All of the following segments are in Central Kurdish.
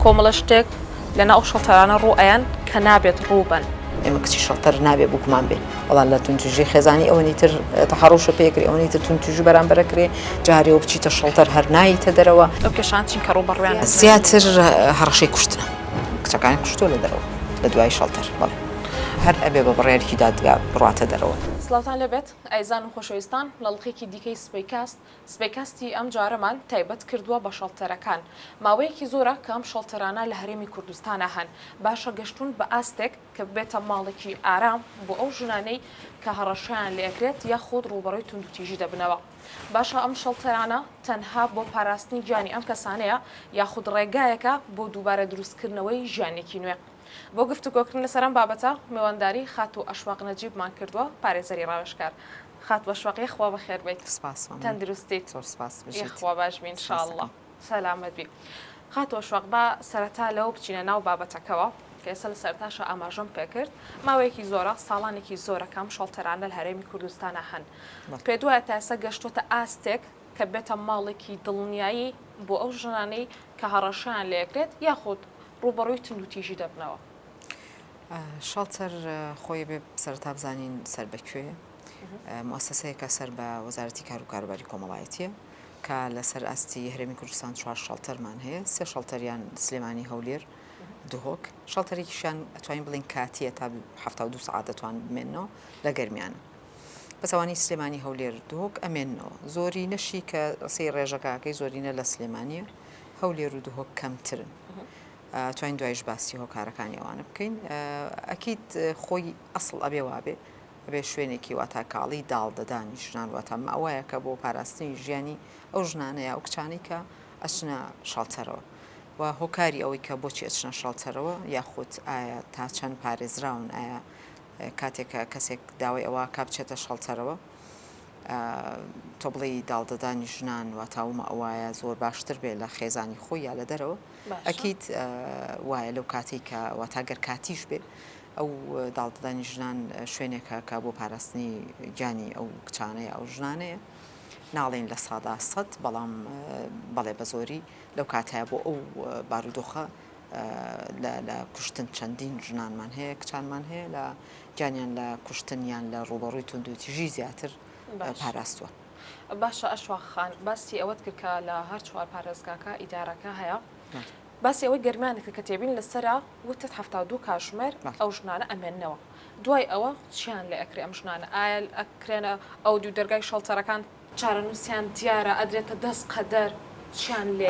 کۆمەڵە شتێک لە ناو شەڵتەرانە ڕوو ئەیەن کە نابێت ڕوو بەن. ئێمە کچی شەڵتەر نابێ بووکمان بێ. بەڵام لە توندوتیژی خێزانی ئەوەنی تر تەحەڕوشە پێ کرێ، ئەوەنی تر توندوتیژی بەرامبەرە کرێ، جارێوە بچیتە شەڵتەر هەر ناییتە دەرەوە. ئەو کێشانە چین کە ڕووبەڕوویان ئەبین؟ زیاتر هەڕەشەی کوشتنە. کچەکانیان کوشتووە لە دەرەوە لە دوای شەڵتەر. بەڵێ. هەر ئەبێ بە بڕیارێکی دادگا بڕاتە دەرەوە. سڵاوتان لێ بێت ئایزان و خۆشەویستان، لە ڵقێکی دیکەی سبەی کاست سبەی کاستی ئەم جارەمان تایبەت کردووە بە شەڵتەرەکان. ماوەیەکی زۆرە کە ئەم شەڵتەرانە لە هەرێمی کوردستانا هەن، باشە گەشتوون بە ئاستێک کە ببێتە ماڵێکی ئارام بۆ ئەو ژنانەی کە هەڕەشەیان لێ ئەکرێت یاخود ڕووبەڕووی توندوتیژی دەبنەوە؟ باشە ئەم شەڵتەرانە تەنها بۆ پاراستنی گیانی ئەم کەسانەیە یاخود ڕێگایەکە بۆ دووبارە دروستکردنەوەی ژیانێکی نوێ؟ بۆ گفتوگۆکردن لەسەر ئەم بابەتە، میوانداری خاتوو ئەشواق نەجیبمان کردووە، پارێزەری ڕاوێژکار. خات بەشوەق یەخوا بەخێر بێیت سپاس مەمنون تەندروستیت زۆر سپاس بژیت یەخوا باش بی ان شاء اللە سەلامەت بی خات بەشوەق با سەرەتا لەوە بچینە ناو بابەتەکەوە کە ئێستا لە سەرەتاشا ئاماژەم پێ کرد ماوەیەکی زۆرە ساڵانێکی زۆرە کە ئەم شەڵتەرانە لە هەرێمی کوردستانا هەن پێت وایە تا ئێستا گەشتووەتە ئاستێک کە بێتە ماڵێکی دڵنیایی بۆ ئەو ژنانەی کە هەڕەشەیان لێ کرێت یاخود ڕووبەڕووی توندوتیژی دەبنەوە شەڵتەر خۆی بێ سەرتا بزانین سەر بە کوێ موسسەیەکە سەر بە وەزارەتی کار و کاروباری کۆمەڵایەتیە کە لەسەر ئاستی هەرێمی کوردستان چوار شەڵتەرمان هەیە سێ شەڵتەریان سلێمانی هەولێر دهۆک شەڵتەرێکیشان ئەتوانین بڵین کاتیە تا ه دو سعات دەتوان بمێنەوە لە گەرمیان. بەسەوانی سلێمانی هەولێر دهۆک ئەمێنەوە زۆری نەشی کە ڕسی ڕێژەکەکەی زۆرینە لە سلێمانە هەولێر و دهۆک کەمترن. توانین دوایش باسی هۆکارەکانی ئەوانە بکەین ئەکید خۆی ئەسڵ ئەبێ وابێ ئەبێ شوێنێکی واتا کاڵی داڵ دەدانی ژنان واتا ماوایەکە بۆ پاراستنی ژیانی ئەو ژنانە یا ئەو کچانەی کە ئەچنە شەڵتەرەوە و هۆکاری ئەوەی کە بۆچی ئەچنە شەڵتەرەوە یاخود ئایا تا چەند پارێزراون ئایا کاتێکە کەسێک داوای ئەوە کا بچێتە شەڵتەرەوە تۆ بڵێ داڵدەدانی ژنان واتاومە ئەوایە زۆر باشتر بێ لە خێزانی خۆی یا لە دەرەوە ئەکید وایە لەو کاتەی کە واتا گەر کاتیش بێ ئەو داڵدەدانی ژنان شوێنێکە کە بۆ پاراستنی گیانی ئەو کچانەیە ئەو ژنانەیە ناڵێن لە سادا سەد بەڵام بەڵێ بە زۆری لەو کاتە بۆ ئەو بارودۆخە لە کوشتن چەندین ژنانمان هەیە کچانمان هەیە لە گیانیان لە کوشتنیان لە ڕوبەڕووی توندوتیژی زیاتر پاراستوە. باشە ئەشواق خان باسی ئەوەت کرد کە لە هەر چوار پارێزگاکە ئیدارەکە هەیە باسی ئەوەی گەرمیانت کرد کە تێبین لەسەرە وتت هەفتا و دوو کاتژمێر ئەو ژنانە ئەمێننەوە دوای ئەوە چیان لێ ئەکرێ ئەم ژنانە ئایەل ئەکرێنە ئەو دوو دەرگای شەڵتەرەکان چارەنووسیان دیارە ئەدرێتە دەست قەدەر چیان لێ.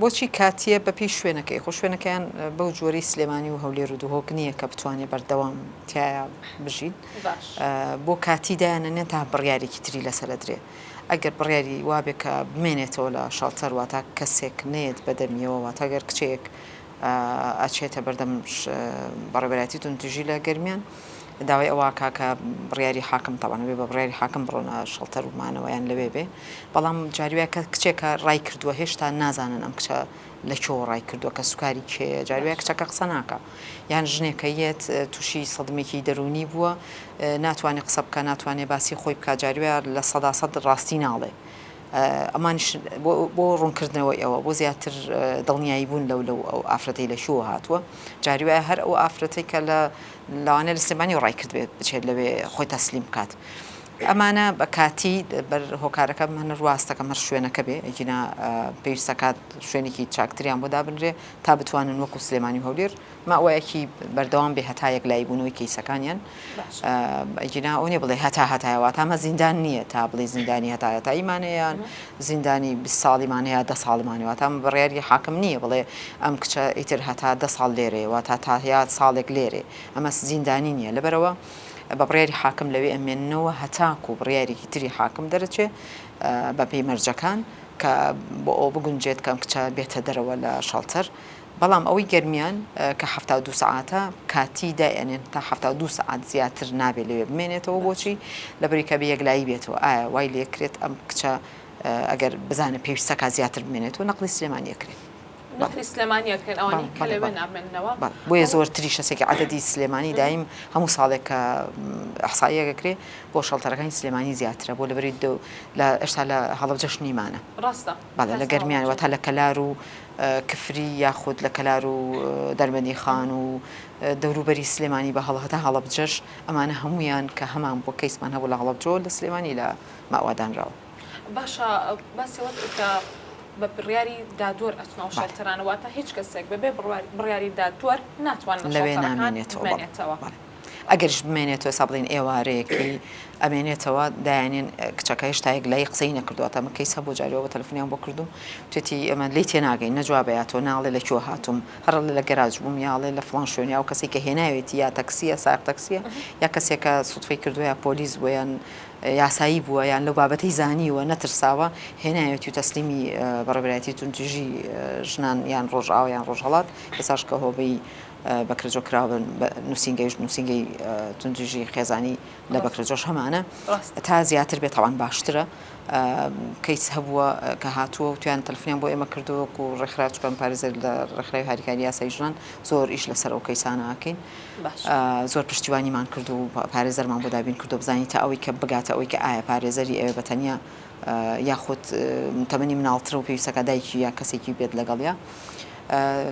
بۆچی کاتییە بەپێی شوێنەکەی، خۆ شوێنەکەیان بەو جۆرەی سلێمانی و هەولێر و دهۆک نییە کە بتوانێت بەردەوام تایە بژین، بۆ کاتی دایانەنێن تا بڕیارێکی تری لەسەر ئەدرێ، ئەگەر بڕیاری وابێ کە بمێنێتەوە لە شەڵتەر واتا کەسێک نەیەت بەدەمیەوە واتا گەر کچێک ئەچێتە بەردەم بەڕێوەبەرایەتی توندوتیژی لە گەرمیان داوای ئەوە ئەکا کە بڕیاری حاکم تەبعەن ئەبێ بە بڕیاری حاکم بڕۆنە شەڵتەر و مانەوەیان لەوێ بێ بەڵام جاری وایە کە کچێکە ڕای کردووە هێشتا نازانن ئەم کچە لە چۆ ڕای کردووە کە سوکاری کێیە جاری وایە کچەکە قسە ناکا یان ژنێکە یەت تووشی سەدمێکی دەروونی بووە ناتوانێ قسە بکە ناتوانێ باسی خۆی بکا جاری وایە لە سەدا سەد ڕاستی ناڵێ ئەمانیش بۆ ڕوونکردنەوەی ئەوە بۆ زیاتر دڵنیایی بوون لەو لەو ئەو ئافرەتەی لە شووە هاتووە جاری وایە هەر ئەو ئافرەتەی کە لە لەوانە لە سلێمانی ڕای کردبێت بچێت لەوێ خۆی تەسلیم بکات. ئەمانە بە کاتی بەر هۆکارەکە من ڕواستەکەم هەر شوێنەکە بێ ئەگینا پێویستەکات شوێنێکی چاکتریان بۆ دابنرێ تا بتوانن وەکو سلێمانی و هەولێر ماوەیەکی بەردەوام بێ هەتا یەکلایی بوونەوەی کەیسەکانیان ئەگینا ئەو نیە بڵێ هەتا هەتایە واتامە زیندان نییە تا بڵێ زیندانی هەتا هەتاییمانەیان زیندانی بی ساڵیمان هەیە دە ساڵمان واتام بڕیاری حاکم نییە بڵێ ئەم کچە ئیتر هەتا دە ساڵ لێرێ واتا تا هەیە ساڵێک لێرێ ئەمە زیندانی نییە لەبەرەوە بە بڕیاری حاکم لەوێ ئەمێننەوە هەتاکو بڕیارێکی تری حاکم دەرەچێ بەپی مەرجەکان کە بۆ ئەو بگونجێت کەم کچە بێتە دەرەوە لە شەڵتەر بەڵام ئەوەی گەرمیان کە حەفتا و دوو سەعاتە کاتی دائەنێن تا حەفتا و دوو سەعات زیاتر نابێت لەوێ بمێنێتەوە بۆچی لەبری کە بە یەکلایی بێتەوە ئایا وای لێکرێت ئەم کچە ئەگەر بزانە پێویستەکە زیاتر بمێنێتەوە نەقلی سلێمانیەکرێت نەخری سلێمانیەکرێن ئەوانی کە لەوێ نامێنەوە بۆیە زۆرتری شەسێکی عادەدی سلێمانی دایم هەموو ساڵێک کە حسایەکەکرێ بۆ شەڵتەرەکانی سلێمانی زیاترە بۆ لەبری دو لە ئێستا لە هەڵبجەش نیمانە ڕاستە. بەڵێ لە گەرمیان واتە لە کەلار و کفری یاخود لە کەلار و دەربەندی خان و دەوروبەری سلێمانی بە هەڵە هەتا هەڵەبجەش ئەمانە هەمویان کە هەمان بۆ کەیسمان هەبوو لە هەڵەبجەوە لە سلێمانی لە ماوادانراوە. باشە باسی ئەوەت کرد کە بە بڕیاری دادوەر ئەچنە ئەو شەلتەرانە واتە هیچ کەسێک بەبێ بڕیاری دادوەر ناتوانێت لەوێ نامێنێتەوە. ئەگەریش بمێنێتەوە ئێستا بڵێن ئێوارەیەکەی ئەمێنێتەوە دایانێن کچەکە هێشتا یەک لای قسەی نەکردووە تەمە کەیس هەبوو جاریەوە بە تەلفنیان بۆ کردووم توێتی ئەمە لی تێناگەین نەجوابەیاتۆ ناڵێ لە کۆ هاتووم هەر لە گەراج بووم یاڵێ لە فڵان شوێنیا و کەسی کە هێناوێتی یا تەکسیە ساق تەکسیە یا کەسێکە سوتفەی کردووە یا پۆلیس بۆیان یاسایی بووە یان لەو بابەتی زانیوە نەترساوە هێناوێتی و تەسلیمی بەڕێبراتی تونتیژی ژنان یان ڕۆژاویان ڕۆژهڵات ئێساش کە هۆبەی بەکرەجۆ کراوبن بە نوسینگەیش نوسینگەی توندوتیژی خێزانی لە بەکرەجۆش هەمانە تا زیاتر بێت تاوان باشترە کەیس هەبووە کە هاتووە و تویان تەلفیان بۆ ئێمە کردووەک و ڕێکخرا چکەم پارێزەر لە ڕێکخراوی هاریکاری یاسای ژنان زۆر ئیش لەسەر ئەو کەیسانەکەین زۆر پشتیوانیمان کرد و پارێزەرمان بۆ دابین کردو بزانین تا ئەوەی کە بگاتە ئەوەی کە ئایا پارێزەری ئەوێ بەتەنیا یاخود تەمەنی مناڵترە و پێویستەکا دایکی یا کەسێکی بێت لەگەڵیا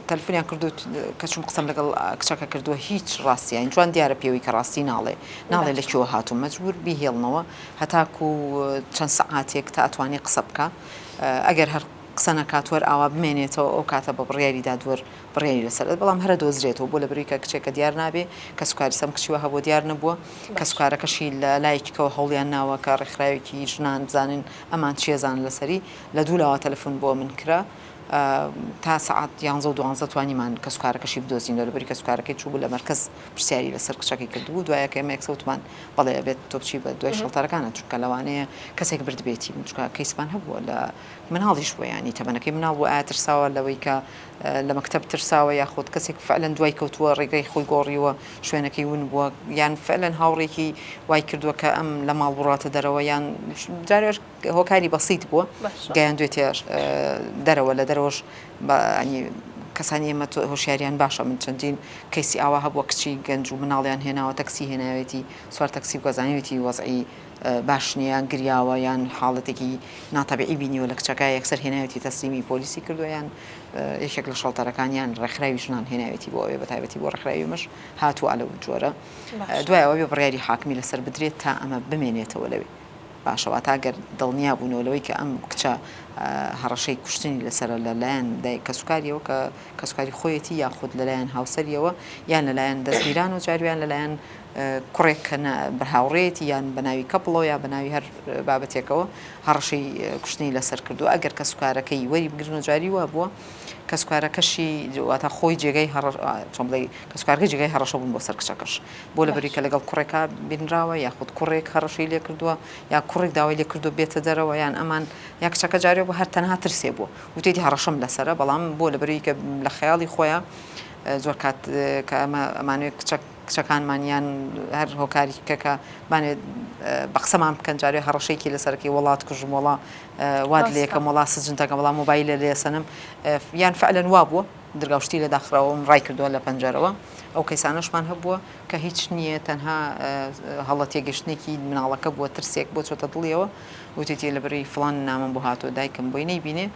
تەلفونیان کردوت کەچوم قسەم لەگەڵ کچەکە کردووە هیچ ڕاستیان جوان دیارە پێوەی کە ڕاستی ناڵێ ناڵێ لە چۆ هاتوو مەجبور بیهێڵنەوە هەتاکو چەند سەعاتێک تا ئەتوانی قسە بکە ئەگەر هەر قسە نەکات وەر ئاوا بمێنێتەوە ئەو کاتە بە بڕیاری دادوەر بڕیاری لەسەر دەدەم بەڵام هەرە دۆزرێتەوە بۆ لەبەروی کە کچێکە دیار نابێ کە سوکاری سەم کچیوە هەبوو دیار نەبووە کە سوکارەکەشی لە لایکەوە هەوڵیان ناوە کە ڕێکخراوێکی ژنان بزانن ئەمان چێزان لەسەری لە دوو لاوە تەلەفۆن بۆ من کرا تا سعات یانزە و دوانزە توانیمان کە سوکارەکەشی بدۆزین لەبەری کە سوکارەکەی چوو لە مەرکز پرسیاری لەسەر کچەکەی کردبوو دوایە کە ئەمەیەک سەوتمان بەڵێ بێت تۆپچی بە دوای شڵتەرەکانە چونکە لەوانەیە کەسێک بردبێتی منچکە کەیسمان هەبووە لە مناڵیش بۆیانی تەمەەکەی مناڵ بۆ ئاترساوە لەوەی کە لە مەکتەب ترساوە یاخود کەسێک فعلەن دوای کەوتووە ڕێگای خۆی گۆڕیوە شوێنەکەی ون بووە یان فعلەن هاوڕێکی وای کردووە کە ئەم لە ماڵ بڕاتە دەرەوە یان جارێش هۆکاری بەسییت بووە گەیان دوێتێش دەرەوە لە دەرەوەش بەنی کەسانی ئێمە هۆشیاریان باشە من چەندین کەسی ئاوا هەبووە کچی گەنج و مناڵیان هێناوە تەکسی هێناوێتی سوار تەکسی و گەزانیوێتی وەزعی باش نیە یان گریاوە یان حاڵەتێکی ناتەبیعی بینیوە لە کچەکە یەکسەر هێناوێتی تەسلیمی پۆلیسی کردووە یان یەکێک لە شەڵتەرەکانیان ڕێکخراوی ژنان هێناوێتی بۆ ئەوێ بە تایبەتی بۆ ڕێکخراوی مەش هاتووە لە جۆرە دوایەوە بێ بڕیاری حاکمی لەسەر بدرێت تا ئەمە بمێنێتەوە لەوێ باشەوە تا گەر دڵنیا بوونەوە لەوەی کە ئەم کچە هەڕەشەی کوشتنی لەسەر لەلایەن دای کەسوکاریەوە کە کەسکاری خۆیەتی یاخود لەلایەن هاوسەریەوە یان لەلایەن دەستگیران و جارویان لەلایەن کوڕێک کە نە بە هاوڕێیەتی یان بە ناوی کەپڵەوە یا بە ناوی هەر بابەتێکەوە هەڕەشەی کوشتنی لەسەر کردووە ئەگەر کەسوکارەکەی وەری بگرنەوە جاری وا بووە کەسوکارەکەشی واتە خۆی جێگەی هەڕ چۆن بڵێ کەسوکارگە جێگەی هەڕەشە بوون بۆ سەر کچەکەش بۆ لە بەریکە لەگەڵ کوڕێکا بینراوە یاخود کوڕێک هەڕەشەی لێ کردووە یا کوڕێک داوای لێ کردو بێتە دەرەوە یان ئەمان یا کچەکە جارێ بۆ هەر تەنها ترسێ بووە وتێتی هەڕەشەم لەسرە بەڵام بۆ لە بەریکە لە خەیاڵی خۆیان زۆر کات کە ئەمە ئەمانوێت کچەک کچەکانمان یان هەر هۆکاریکی کە کە بانەوێت بە قسەمان بکەن جارێ هەڕەشەیەکی لەسەرەکەی وڵات کوژم وڵا واد لەکەم وڵا سجنتەکە بەڵام مۆبایلە لێسەنم یان فعلەن وا بووە درگا شتی لە داخراوەم ڕای کردووە لە پەنجەرەوە ئەو کەیسانەشمان هەبووە کە هیچ نییە تەنها هەڵە تێگەشتێکی مناڵەکە بووە ترسێک بۆ چۆتە دڵیەوە وتێتی لە بری فلان نامم بۆ هاتۆ دایکم بۆی نەیبینێ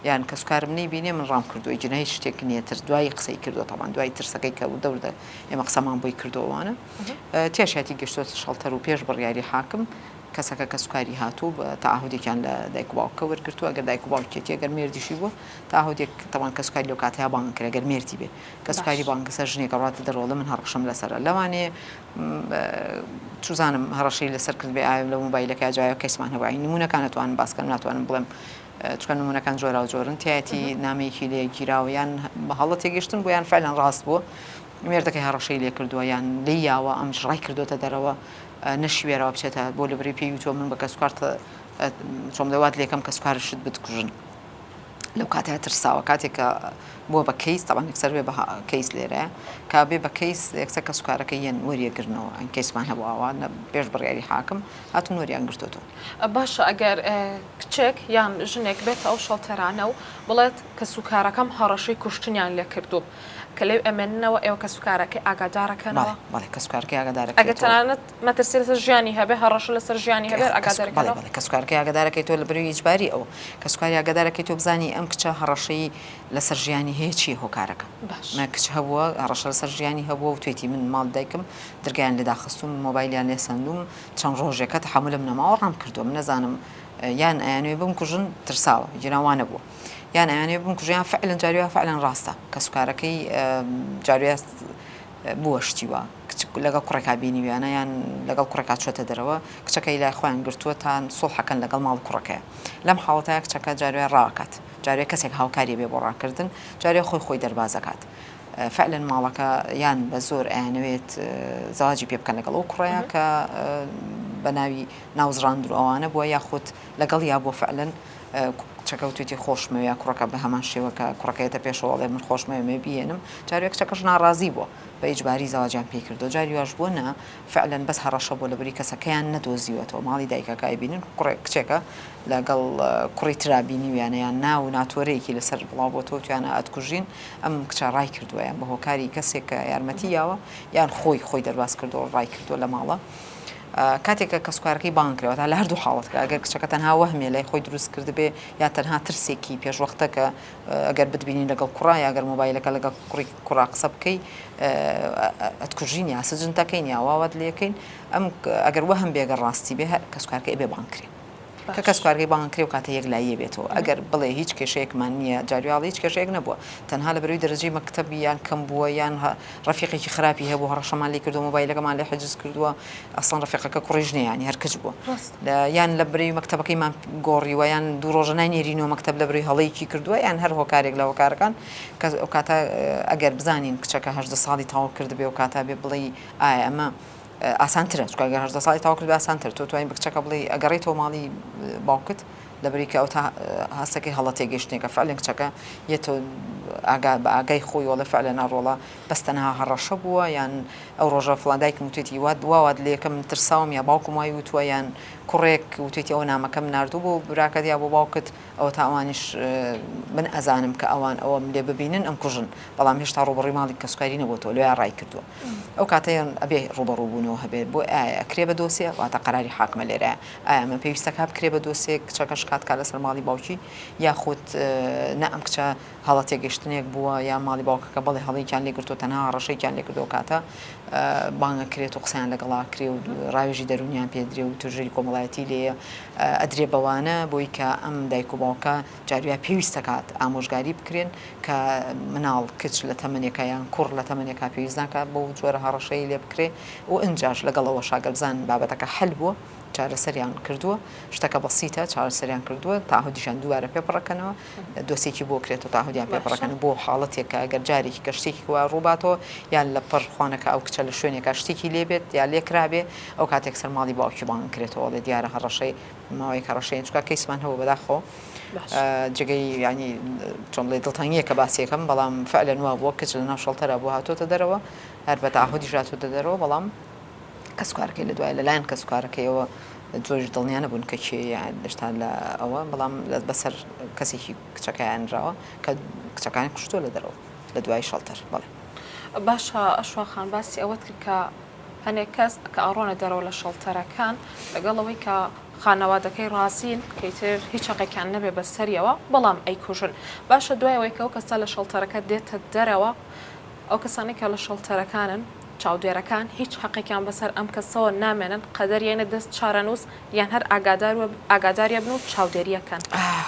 یان کەسوکارم نەی بینێ من ڕام کردووە جنە هیچ شتێک نیە ترس دوایی قسەی کردوە تاوان دوای ترسەکەی کە وردە وردە ئێمە قسەمان بۆی کردەوە وانە تێشاتی گەشتۆتە شەڵتەر و پێش بڕیاری حاکم کەسەکە کە سوکاری هاتوو بە تاهودێکیان لە دایک و باوکە وەرگتووە گەر دایک و باوکێتی گەر مێردیشی بوو تاهودێک تەوان کە سوکاری لەو کاتەیە بانگ کرێ گەر مێردی بێ کە سوکاری بانگسە ژنێکە ڕاتە دەرۆڵە من هەڕەشم لەسرە لەوانەیە چزانم هەڕەشەی لەسەر کرد بێ ئاەوە لە موبایلەکە جایە کەسمان هەواین نمونونەکان ناتوانم باسکەم ناتوانم بڵێم چونکە نمونەکان جۆراوجۆرن تایەتی نامەیەکی لێگیراوە یان بە هەڵە تێگەشتن بۆ یان فعلەن ڕاست بوو مێردەکەی هەڕەشەی لێ کردووە یان لێ یاوە ئەم ژڕای کردوتە دەرەوە نەشیوێرەوە بچێتە بۆ لەبری پێی وتۆ من بە کەسکارت چۆم لەوات لێکەم کەسکارشت بتکوژن لەو کاتە ترساوە کاتێکە بووە بە کەیس تاوان یەکسەر بێ بە کەیس لێرە کا بێ بە کەیس یەکسەر کە سوکارەکە یەن وەریەگرنەوە ئەن کەیسمان هەبواوە پێش بڕیاری حاکم هاتون وەریان گرتوتون باشە ئەگەر کچێک یان ژنێک بێتە ئەو شەڵتەرانە و بڵێت کەسوکارەکەم هەڕەشەی کوشتنیان لێ کردووم، کە لێی ئەمێننەوە ئێوە کەسوکارەکەی ئاگادارەکەنەوە؟ بەڵێ بەڵێ کەسوکارەکەی ئاگادارەکەیتەوە. ئەگەر تەنانەت مەترسی لەسەر ژیانی هەبێت، هەڕەشە لەسەر ژیانی هەبێت ئاگادارەکەنەوە؟ بەڵێ بەڵێ کەسوکارەکەی ئاگادارەکەیتەوە لە بەروی ئیجباری ئەو کەسوکاری ئاگادارەکەیتەوە بزانی ئەم کچە هەڕەشەی لەسەر ژیانی هەیە چییە هۆکارەکە؟ باش. مە کچ هەبووە هەڕەشە لەسەر ژیانی هەبووە وتوێتی من ماڵی دایکم درگایان لێ داخستووم، مۆبایلیان لێ سەندووم، چەند ڕۆژێکە تەحەمولم نەماوە ڕام کردووە من نەزانم یان ئەیانوێ بمکوژن ترساوە جیران وا نەبووە یان ئەیانوێ بمکوژیان فعلەن جاری وا فعلەن ڕاستە کەسوکارەکەی جاروێ بووە شتیوە لەگەڵ کوڕێکا بینیویانە یان لەگەڵ کوڕێکا چۆتە دەرەوە کچەکەی لای خۆیان گرتووە تان سوڵحەکەن لەگەڵ ماڵ کوڕەکەیە لەم حاڵەتەیە کچەکە جاروێ ڕاکات جارێ کەسێک هاوکاریێ بێ بۆ ڕاکردن جارێ خۆی خۆی دەربازەکات فەعلەن ماڵەکە یان بە زۆر ئەیانەوێت زەواجی پێ بکەن لەگەڵ ئەو کوڕەیە کە بە ناوی ناوزڕاندر ئەوانە بووە یاخود لەگەڵ یا بۆ فەعلەن کچەکە وتێتی خۆشمەوێ کوڕەکە بە هەمان شێوەکە کوڕەکەیەتە پێشەوەڵێ من خۆشمەوێ مێ بیێنم جارێک کچەکەش ناڕازی بووە بە ئیجباری زەواجیان پێی کردو جاری واش بووە نا فعلەن بەس هەڕەشە بۆ لەبری کەسەکەیان نەدۆزیوەتەوە ماڵی دایکەکە ئەیبینن کوڕێک کچێکە لەگەڵ کوڕی ترا بینیویانە یان نا و ناتۆرەیەکی لەسەر بڵاوبۆتەوە وتویانە ئەتکوژین ئەم کچە ڕایکردوە یان بەهۆکاری کەسێک کە یارمەتی یاوە یان خۆی خۆی دەرباز کردوە ڕایکردوە لە ماڵە کاتێک کە کەسکارەکەی بانگ کرەوە تا لە هەردوو حاڵەتکە ئەگەر کچەکە تەنها وەهمێ لای خۆی دروست کردبێ یا تەنها ترسێکی پێشوەختەکە ئەگەر بتبینی لەگەڵ کوڕا یا گەر مۆبایلەکە لەگەڵ کوڕی کوڕا قسە بکەی ئەتکوژین یا سجن تەکەین یا واوات لەکەین ئەم ئەگەر وەهم بێگە ڕاستی بێ کەسکارکە ئەبێ بانکرێ کە کەس کارگەی بانگ کرێ و کاتە یەک لایە بێتەوە ئەگەر بڵێ هیچ کێشەیەکمان نییە جاریاڵ هیچ کێشەیەک نەبووە تەنها لە بەروی دەرەجەی مەکتتەبی یان کەم بووە یان ڕەفیقێکی خراپی هەبوو هەڕەشەمان لێ کردووە مۆبایلەکەمان لێ حجز کردووە ئەسڵەن ڕەفیقەکە کوڕی ژنیانی هەر کچ بووە یان لە برەی مەکتەبەکەیمان گۆڕیوە یان دوو ڕۆژە ناینێرینەوە مەکتەب لە بری هەڵەیەکی کردووە یان هەر هۆکارێک لە هۆکارەکان کە ئەو کاتە ئەگەر بزانین کچەکە هەژدە ساڵی تاو کردبێ و کاتا بێ بڵێ ئایا ئەمە ئاسانترە چکگە هەژدە ساڵی تاو کرد ئاسانتر تۆ توانین بکچەکە بڵێ ئەگەڕێتەوە ماڵی باوکت دەبری کە ئەوتا هەستەکەی هەڵە تێگەیشتنێکە فعلەن کچەکە یەتۆ ئاگا بە ئاگای خۆی وەڵە فعلە ناڕۆڵە بەس تەنها هەڕەشە بووە یان ئەو ڕۆژە فڵان دایکم وتێتی وات دواوات لەکە من ترساوم یا باوکم وای وتووە یان کوڕێک وتێتی ئەو نامەکەم نردوو بۆ براکەت یا بۆ باوکت ئەوە تا ئەوانیش من ئەزانم کە ئەوان ئەوەم لێ ببینن ئەم کوژن بەڵام هێشتا ڕوبڕی ماڵی کەسکاری نەبووەوە لە ڕای کردووە ئەو کاتەیان ئەبێ ڕوبەڕووبوونەوە هەبێت بۆ ئایا کرێ بە دۆسیە واتە قەراری حاکمە لێرە ئایا ئەمە پێویستە کار بکرێت بە دۆسێک کچەکە شکات کات لەسەر ماڵی باوکی یاخود نا ئەم کچە هەڵە تێگەشتنێک بووە یا ماڵی باوکەکە بەڵێ هەڵەیەکیان لێگرتو تەنها هەڕەشەیەکیان لێکردو کاتە بانگە کرێت و قسەیان لەگەڵا کرێ و ڕاوێژی دەرونیان پێدرێ و توژێری کۆمەڵایەتی لێە ئەدرێ بەوانە بۆی کە ئەم دایک و باوکە جارویا پێویستە کات ئامۆژگاری بکرێن کە مناڵ کچ لە تەمەنێکە یان کوڕ لە تەمەنێکا پێویستناکە بۆ جۆرە هەڕەشەی لێ بکرێ و ئەنجاش لەگەڵەوە شاگەرزان بابەتەکە حل بووە چارەسەریان کردووە شتەکە بەسیتە چارەسەریان کردووە تاهودیشان دووارە پێ بڕەکەنەوە دۆسێکی بۆ کرێت و تاهودیان پێ بڕەکەن بۆ حاڵەتێکە گەر جارێکی گەشتێکی وا ڕووباتەوە یان لە پڕ خوانەکە ئەو کچە لە شوێنێکا شتێکی لێبێت یا لێکرابێ ئەو کاتێک سەر ماڵی باوکی بانگ کرێتەوە لە دیارە هەڕەشەی ماوەی کەڕەشەی چکا کەیسمان هەوە بەداخۆ جگەی ینی چۆن بڵێ دڵتەنگیە کە باسیەکەم بەڵام فعلەن وا بووە کچ لە ناو شەڵتەرە بۆ هاتۆتە دەرەوە هەر بە تاهودیشاتۆتە دەرەوە بەڵام کەسوکارەکەی لەدوایە لەلایەن کەسوکارەکەیەوە زۆریش دڵنیا نەبوون کە کێیە هێشتا لە ئەوە بەڵام بەسەر کەسێکی کچەکەیان نراوە کە کچەکانی کوشتووە لە دەرەوە لە دوای شەڵتەر بڵێ باشە ئەشوا خان باسی ئەوەت کرد کە هەنێک کەس کە ئاڕۆنە دەرەوە لە شەڵتەرەکان لەگەڵ ئەوەی کە خانەوادەکەی ڕازین کەیتر هیچ چقێکیان نەبێ بە سەریەوە بەڵام ئەیکوژن باشە دوایەوەی کە ئەو کەستا لە شەڵتەرەکە دێتە دەرەوە ئەو کەسانی کە لە شەڵتەرەکانن چاودێرەکان هیچ هەقێکیان بەسەر ئەم کەسەوە نامێنن قەدەر یەنە دەست چارەنووس یان هەر ئاگادار و ئاگاداریە بن و چاودێریە کەن.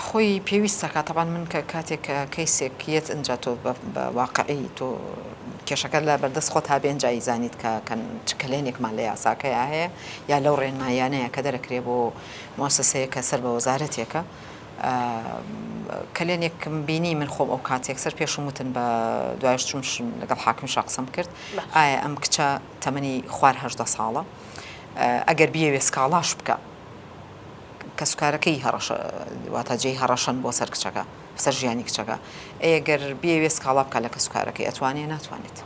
خۆی پێویستە کە تەبان من کە کاتێک کەیسێک یەت ئنجا تۆ بە بە واقعی تۆ کێشەکە لە بەردەست خۆتا بێ ئنجا ئیزانیت کە کە چ کەلێنێکمان لە یاساکەیا هەیە یا لەو ڕێنماییانەیە کە دەرەکرێ بۆ مۆسەسەیە کە سەر بە وەزارەتێکە کەلێنێکم بینی من خۆم ئەو کاتێک سەر پێشم وتن بە دوایش چون لەگەڵ حاکم شا قسەم کرد ئایا ئەم کچە تەمەنی خوارهدە ساڵە ئەگەر بیەوێ سکاڵاش بکە کەسوکارەکەی هەڕەشە واتە جێی هەڕەشەن بۆ سەر کچەکە سەر ژیانی کچەکە ئەگەر بیەوێ سکاڵا بکە لە کەسوکارەکەی ئەتوانێ ناتوانێت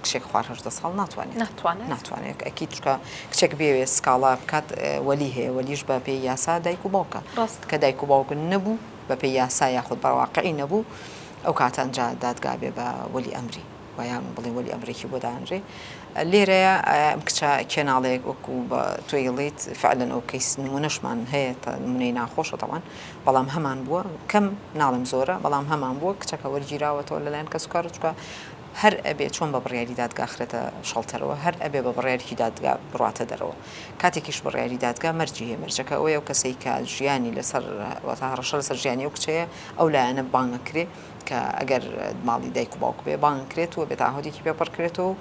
کچێک خوار هەژدە ساڵ ناتوانێت ناتوانێت ناتوانێت ئەکی چکە کچێک بێوێ سکاڵا بکات وەلی هەیە وەلیش بە پێی یاسا دایک و باوکە ڕاست کە دایک و باوکن نەبوو بە پێی یاسا یاخود بەواقعی نەبوو ئەو کاتانجا دادگا بێ بە وەلی ئەمری ویان بڵێ وەلی ئەمریکی بۆ دانرێ لێرەیە ئەم کچە کێناڵەیەک وەکو بە تۆیڵیت فعلەن ئەو کەیس نمونەشمان هەیە تا نمونەی ناخۆشە تەوان بەڵام هەمان بووە کەم ناڵم زۆرە بەڵام هەمان بووە کچەکە وەرگیراوەتەوە لەلایەن کەسکار چکە هەر ئەبێ چۆن بە بڕیاری دادگا خرێتە شەڵتەرەوە هەر ئەبێ بە بڕیارێکی دادگا بڕاتە دەرەوە کاتێکیش بڕیاری دادگا مەرجی هەیە مەرجەکە ئەوەیە ئەو کەسەی کە ژیانی لەسەر واتە هەڕەشە لەسەر ژیانی ئەو کچەیە ئەو لایەنە بانگ ئەکرێ کە ئەگەر ماڵی دایک و باوک بێ بانگ کرێت و بێ تاهۆدێکی پێ پڕ کرێتەوە و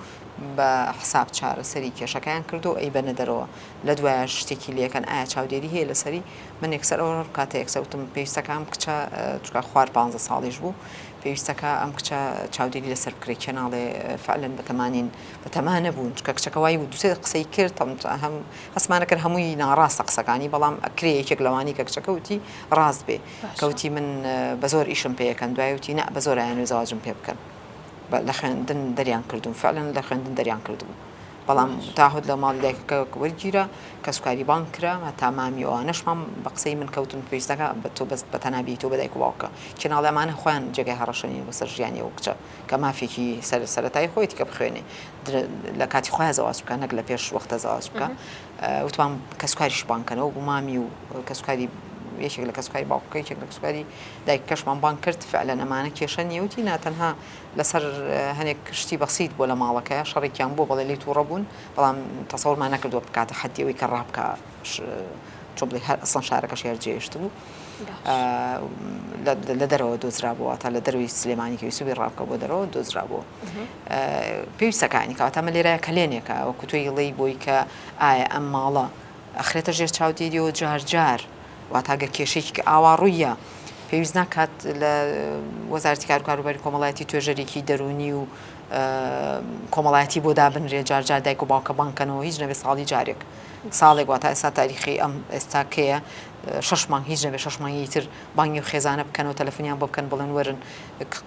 بە حساب چارەسەری کێشەکەیان کردو و ئەیبەنە دەرەوە لە دوایە شتێکی لەکەن ئایا چاودێری هەیە لەسەری من یەکسەر ئەو کاتە یەکسەوتم پێویستەکان کچە چکە خوار پانزە ساڵیش بوو پێویستەکا ئەم کچە چاودێری لەسەر بکرێ کێ ناڵێ فعلەن بەتەمانین بەتەما نەبوون چکە کچەکە وای و دوسێ قسەی کرد هەم هەسمانە کرد هەمووی ناڕاستە قسەکانی بەڵام ئەکرێ یەکێک لەوانی کە کچەکەوتی ڕاست بێ کەوتی من بە زۆر ئیشم پێەکەن دوایوتی نە بە زۆرایەن و زەواجم پێ بکەن لە خوێندن دەریان کردوون فعلەن لە خوێندن دەریان کردوون بەڵام تاهت لە ماڵی دایکەکە وەرگیرا کەسوکاری بانگ کرا هەتا مامی ئەوانەشمان بە قسەی من کەوتن پێویستەکە بە تۆ بەست بە تەنابی تۆ بەدایک و باوکە چێناڵی ئەمانە خۆیان جێگای هەڕەشەنین بەسەر ژیانی ئەو کچە کە مافێکی سەر سەرەتایی خۆیەتی کە بخوێنێ لە کاتی خۆیان زەواج بکە نەک لە پێش وەختە زەواج بکە وتوان کەسوکاریش بانکەنەوە بۆ مامی و کەسوکاری یەکێک لە کەسوکاری باوکەکەی یەکێک لە کەسوکاری دایکەشمان بانگ کرد فعلا ئەمانە کێشە نیەوتی ناتەنها لەسەر هەنێک شتی بەسیت بۆ لە ماڵەکە شەڕێکیان بۆ بەڵێ لی توڕە بوون بەڵام تەسەورمان نەکردوە بکاتە حەدی ئەوی کە ڕابکە چۆ بڵێ هەر ئەسڵەن شارەکەش هێر جێشت بوو لە دەرەوە دۆزرا بووە تا لە دەروی سلێمانی کەوی سوبی ڕابکە بۆ دەرەوە دۆزرا بوو پێویستەکانی کاتەمە لێرای کەلێنێکە وەکوتۆی ڵی بۆی کە ئایا ئەم ماڵە ئەخرێتە ژێر چاودێریەوە جار جار. واتە گەر کێشەیەکی کە ئاوا ڕوویە پێویست ناکات لە وەزارەتی کاروکاروباری کۆمەڵایەتی توێژەرێکی دەرونی و کۆمەڵایەتی بۆ دابنرێ جارجار دایک و باوکە بانکەنەوە هیچ نەبێ ساڵی جارێک ساڵێک واتە ئێستا تاریخی ئەم ئێستاکەیە شش مانگ هیچ نەبێ شش مانگی تر بانگی و خێزانە بکەنەوە تەلەفۆنیان بۆ بکەن بڵێن وەرن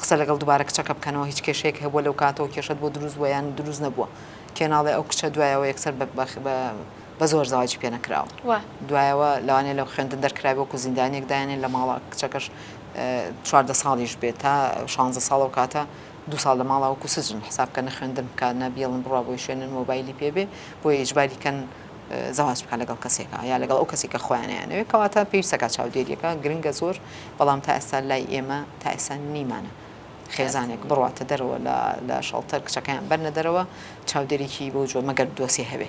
قسە لەگەڵ دووبارە کچەکە بکەنەوە هیچ کێشەیەک هەبووە لەو کاتەوە کێشت بۆ دروست ویان دروست نەبووە کێناڵێ ئەو کچە دوایەوە یەکسەر بە بە زۆر زەواجی پێ نەکراوە وە دوایەوە لەوانێ لەو خوێندن دەرکرای وەکو زیندانیەک دایانێن لە ماڵە کچەکەش چواردە ساڵیش بێت تا شانزە ساڵە و کاتە دو ساڵ لە ماڵا وەکو سجن حساب کە نەخوێندن بکە نەبیڵن بڕا بۆی شوێنن مۆبایلی پێبێ بۆ ئیجباری کەن زەواج بکە لەگەڵ کەسێکە یا لەگەڵ ئەو کەسێکە خۆیانیانەوێت کەواتە پێویستەکە چاودێریەکە گرنگە زۆر بەڵام تا ئێستا لای ئێمە تا ئێستا نیمانە خێزانێک بڕاتە دەرەوە لە شەڵتەر کچەکەیان بەرنە دەرەوە چاودێریی بۆ جۆ مەگەر دۆسی هەبێ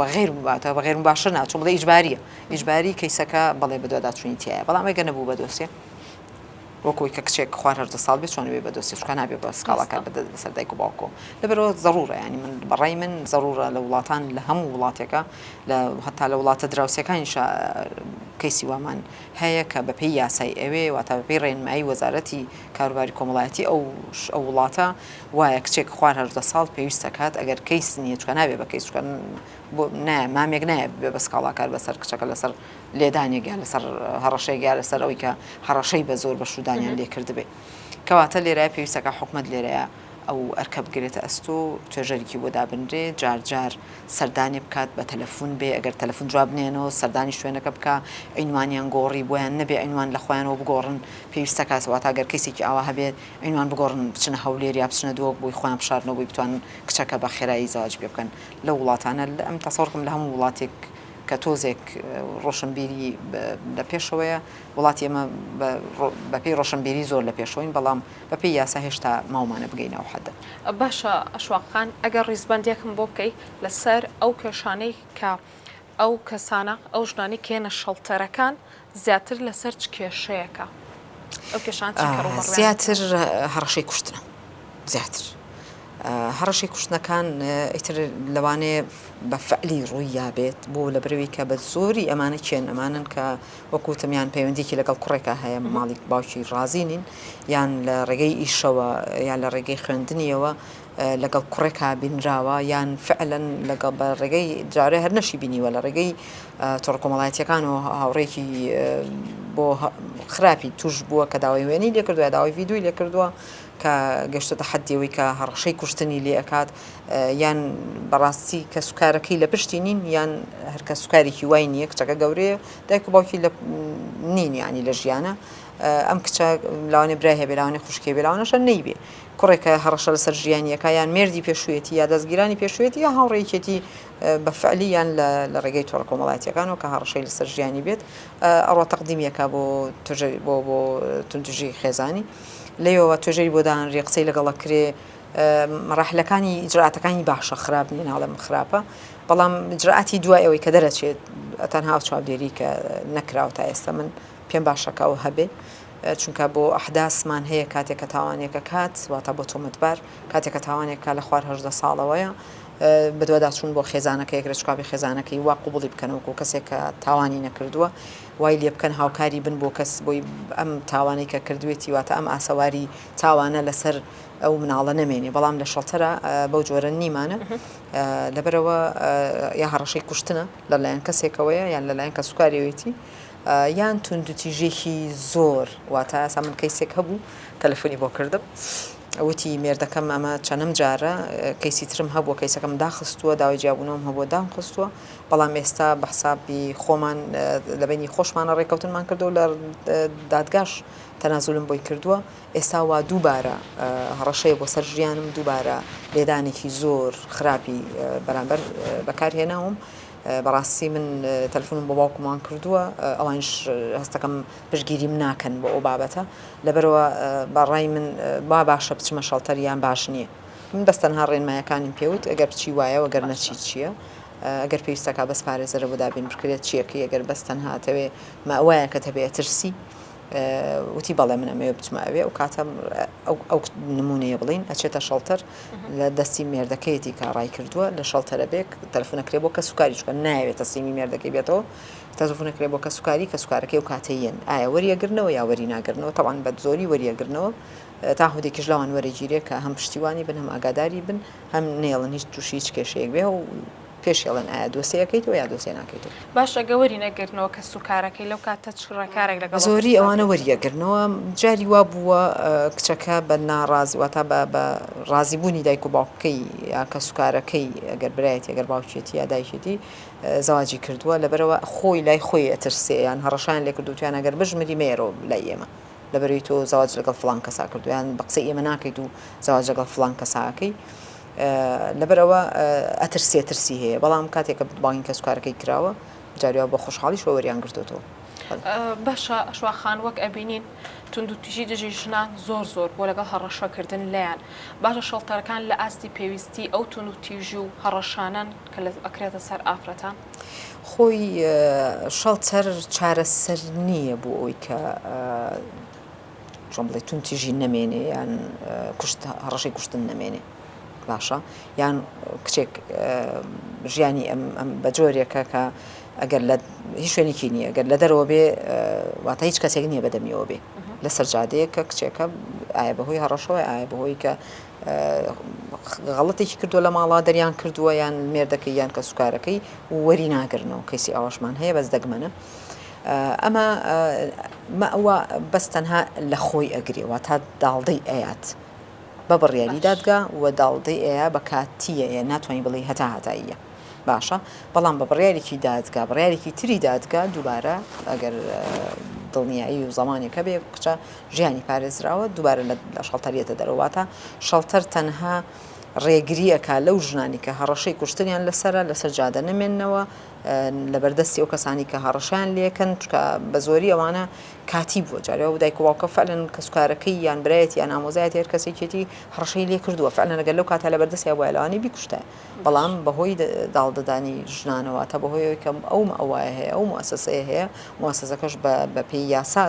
بەغیر واتە بەغیر باشە ناچۆ بڵێ ئیجباریە ئیجباری کەیسەکە بەڵێ بەدواداچوونی تایە بەڵام ئەگە نەبوو بە دۆسێ وەکوی کە کچێک خوار هەردە ساڵ بێت چۆن بێ بە دۆستی شکان نابێ بە سکاڵاکە بدە بەسەر دایک و باوکۆ لەبەرەوە ضرورە ینی من بەڕای من ضرورە لە وڵاتان لە هەموو وڵاتێکە لە هەتا لە وڵاتە دراوسەکانی کەیسی وامان هەیە کە بەپی یاسای ئەوێ واتە بەپی ڕێنمایی وەزارەتی کاروباری کۆمەڵایەتی ئەو ئەو وڵاتە وایە کچێک خوار هەژدە ساڵ پێویست ئەکات ئەگەر کەیس نیە چکە نابێ بە کەیس چکە بۆ نایە مامێک نایە بێ بە سکاڵاکار بەسەر کچەکە لەسەر لێدانێک یا لەسەر هەڕەشەیەک یا لەسەر ئەوی کە هەڕەشەی بە زۆر بە شودانیان لێ کردبێ کەواتە لێرە پێویستەکە حکومەت لێرەیە ئەو ئەرکە بگرێتە ئەستۆ و توێژەرێکی بۆ دابنرێ جار جار سەردانی بکات بە تەلەفون بێ ئەگەر تەلەفون جواب نێنەوە سەردانی شوێنەکە بکە عینوانیان گۆڕی بۆیان نەبێ عینوان لە خۆیانەوە بگۆڕن پێویستەکە سەواتاگەر کەسێکی ئاوا هەبێت عینوان بگۆڕن بچنە هەولێر یا بچنە دۆک بۆی خۆیان بشارنەوە بۆی بتوانن کچەکە بە خێرایی زەواج پێ بکەن لەو وڵاتانە من تەسەوڕکەم لە هەموو وڵاتێک کە تۆزێک ڕۆشنبیری لە پێشەوەیە وڵاتی ئێمە بەپێی ڕۆشنبیری زۆر لە پێشەوەین بەڵام بەپێی یاسا هێشتا ماومانە بگەینە ئەو حەدە. باشە ئەشواق خان ئەگەر ڕیزبەندیەکم بۆ بکەی لەسەر ئەو کێشانەی کە ئەو کەسانە، ئەو ژنانەی کە یەنە شەڵتەرەکان زیاتر لەسەر چ کێشەیەکە ئەو کێشانە چی کەڕوو بەڕوویان دەکەن؟ زیاتر هەڕەشەی کوشتنە زیاتر هەڕەشەی کوشتنەکان ئیتر لەوانەیە بە فەعلی ڕووییا بێت بۆ لە برەوی کە بە زۆری ئەمانە چێن ئەمانن کە وەکوتم یان پەیوەندیکی لەگەڵ کوڕێکە هەیە ماڵی باوکی ڕازی نین یان لە ڕێگەی ئیشەوە یان لە ڕێگەی خوێندنیەوە لەگەڵ کوڕێکا بینراوە یان فعلەن لەگەڵ بە ڕێگەی جارێ هەر نەشی بینیوە لە ڕێگەی تۆڕە کۆمەڵایەتیەکان و هاوڕێکی بۆ خراپی توش بووە کە داوای وێنی لێکردوە داوای ڤیددیوی لێکردووە کە گەشتتە حدیەوەی کە هەڕەشەی کوشتنی لێ ئەکات یان بەڕاستی کە سوکارەکەی لە پشتی نین یان هەرکە سوکارێکی وای نییە کچەکە گەورەیە دایک و باوکی لە نین ینی لە ژیانە ئەم کچە لاوانێ برای هەبێ لاوانێ خوشکێ بێ لاوانەشە نەیبێ کوڕێک کە هەڕەشە لەسەر ژیانییەکە یان مێردی پێشوویەتی یا دەزگیرانی پێشوویەتی یا هاوڕێیەکێتی بە فعلی یان لە ڕێگەی تۆڕە کۆمەڵاتییەکانەوە کە هەڕەشەی لەسەر ژیانی بێت ئەڕا تەقدیمی ئەکا بۆ توژەری بۆ بۆ توندوژی خێزانی لێیەوە توێژەری بۆ دانانرێ قسەی لەگەڵ ئەکرێ مەراحلەکانی ئیجراتەکانی باشە خراپ نییە ناڵێم خراپە بەڵام ئیجراتی دوای ئەوەی کە دەرەچێت تەنها چاودێری کە نەکراوە تا ئێستا من پێم باشەکە و هەبێ چونکە بۆ ئەحداسمان هەیە کاتێک کە تاوانێک ئەکات واتە بۆ تۆمەتبار کاتێک کە تاوانێک کا لە خوار هەژدە ساڵەوەیە بەدواداچوون بۆ خێزانەکە یەکرێ چکاپی خێزانەکەی وا قوبڵی بکەنەوەکو کەسێک کە تاوانی نەکردووە وای لێ بکەن هاوکاری بن بۆ کەس بۆی ئەم تاوانەی کە کردوێتی واتە ئەم ئاسەواری تاوانە لەسەر ئەو مناڵە نەمێنێ بەڵام لە شەڵتەرە بەو جۆرە نیمانە لەبەرەوە یا هەڕەشەی کوشتنە لەلایەن کەسێکەوەیە یان لەلایەن کە سوکاریەوەیەتی یان توندوتیژێکی زۆر واتە ئەسا من کەیسێک هەبوو تەلەفۆنی بۆ کردم وتی مێردەکەم ئەمە چەنم جارە کەیسی ترم هەبووە کەیسەکەم داخستووە داوای جیابوونەوەم هەبووە دام خستووە بەڵام ئێستا بە حسابی خۆمان لەبینی خۆشمانە ڕێککەوتنمان کردو لە دادگاش تەنازولم بۆی کردووە ئێستا وا دووبارە هەڕەشەیە بۆ سەر ژیانم دووبارە لێدانێکی زۆر خراپی بەرامبەر بەکارهێناوم بەڕاستی من تەلفونم بۆ باوکموان کردووە ئەوانیش هەستەکەم پشگیریم ناکەن بۆ ئەو بابەتە لەبەرەوە بە ڕای من با باشە بچمە شەڵتەر یان باش نییە من بەس تەنها ڕێنمایەکانیم پێوت ئەگەر بچی وایە وەگەر نەچی چییە ئەگەر پێویستەکە بەس پارێزەرە بۆ دابین بکرێت چیەکەی ئەگەر بەس تەنها ئەتەوێ مەئوایەکەت هەبێ ئەترسی وتی بەڵێ من ئەمەوێ بچمە ئەوێ ئەو کاتە ئەو نمونەیە بڵین ئەچێتە شەڵتەر لە دەستی مێردەکەیەتی کە ڕای کردووە لە شەڵتەرە بێک تەلفونەکرێ بۆ کە سوکاری چکە ناوێتە سیمی مێردەکەی بێتەوە تەزفونەکرێ بۆ کە سوکاری کە سوکارەکەی و کاتەیەن ئایا وەریەگرنەوە یا وەری ناگرنەوە تەوان بە زۆری وەریەگرنەوە تا هودێکیش لەوان وەرەگیرێ کە هەم پشتیوانی بن هەم ئاگاداری بن هەم نێڵن هیچ تووشی هیچ کێشەیەک بێ و پێشێڵن ئایا دۆسێ ئەکەیتەوە یا دۆسێ ناکەیتەوە. باش ئەگە وەری نەگرنەوە کەس و کارەکەی لەو کاتە چ ڕێکارێک لەگەڵ ئەو کەسە بەزۆری ئەوانە دەگرێت؟ وەری ئەگرنەوە جاری وا بووە کچەکە بە ناڕازی واتا بە بە ڕازی بوونی دایک و باوکەکەی یا کەس و کارەکەی ئەگەر برایەتی ئەگەر باوکیەتی یا دایکێتی زەواجی کردووە لەبەرئەوە خۆی لای خۆی ئەترسێ یان هەڕەشەیان لێ کردووە تویان ئەگەر بژمری مەیەرەوە لای ئێمە لەبەرەوەی تۆ زەواج لەگەڵ فڵان کەسا کردووە یان بە قسەی ئێمە ناکەیت و زەواج لەگەڵ فڵان کەسا ئەکەی لەبەرئەوە ئەترسێ ترسی هەیە بەڵام کاتێک کە بانگی کەسوکارەکەی کراوە جاریوا بە خۆشحاڵیشەوە وەریان گرتۆتەوە. باشە شوا خان وەک ئەبینین توندوتیژی دژی ژنان زۆر زۆر بۆ لەگەڵ هەڕەشەکردن لێیان باشە شەڵتەرەکان لە ئاستی پێویستی ئەو توندوتیژی و هەڕەشانەن کە لە ئەکرێتە سەر ئافرەتان خۆی شەڵتەر چارەسەر نییە بۆ ئەوی کە چۆن بڵێ توندتیژی نەمێنێ یان کوشت هەڕەشەی کوشتن نەمێنێ باشە یان کچێک ژیانی ئەم ئەم بە جۆرێکە کە ئەگەر لە هیچ شوێنێکی نییە گەر لە دەرەوە بێ واتە هیچ کەسێک نییە بەدەمیەوە بێ لە سەرجادەیە کە کچێکە ئایا بەهۆی هەڕەشەوەی ئایا بەهۆی کە غەڵەتێکی کردووە لە ماڵا دەریان کردووە یان مێردەکەی یان کە سوکارەکەی وەری ناگرنەوە کەسی ئاواشمان هەیە بەس دەگمەنە ئەمە مەئوا بەس تەنها لەخۆی ئەگرێ واتا داڵدەی ئەیات بە بڕیاری باش دادگا و داڵدەی ئەیا بە کاتیەیە ناتوانی بڵێی هەتا هەتاییە باشە بەڵام بە بڕیارێکی دادگا بڕیارێکی تری دادگا دووبارە ئەگەر دڵنیایی و زەمانێک هەبێ کچە ژیانی پارێزراوە دووبارە لە لە شەڵتەر یەتە دەرەوە واتا شەڵتەر تەنها ڕێگریەکە لەو ژنانی کە هەڕەشەی کوشتنیان لەسەرە لەسەر جادە نەمێننەوە لەبەردەستی ئەو کەسانی کە هەڕەشەیان لێکەن چونکە بەزۆری ئەوانە کاتی بووە جارێ ئەو دایک و باوکە فەعلەن کەسوکارەکەی یان برایەتی یان ئامۆزایەتی هەر کەسێکێتی هەڕەشەی لێ کردووە فەعلەن ئەگەر لەو کاتە لەبەردەستی هەبوایە لەوانەیە بیکوشتایە بەڵام بەهۆی داڵدەدانی ژنانە واتە بەهۆی ئەوەی کە ئەو مەوایە هەیە ئەو موئەسەسەیە هەیە موئەسەسەکەش بەپێی یاسا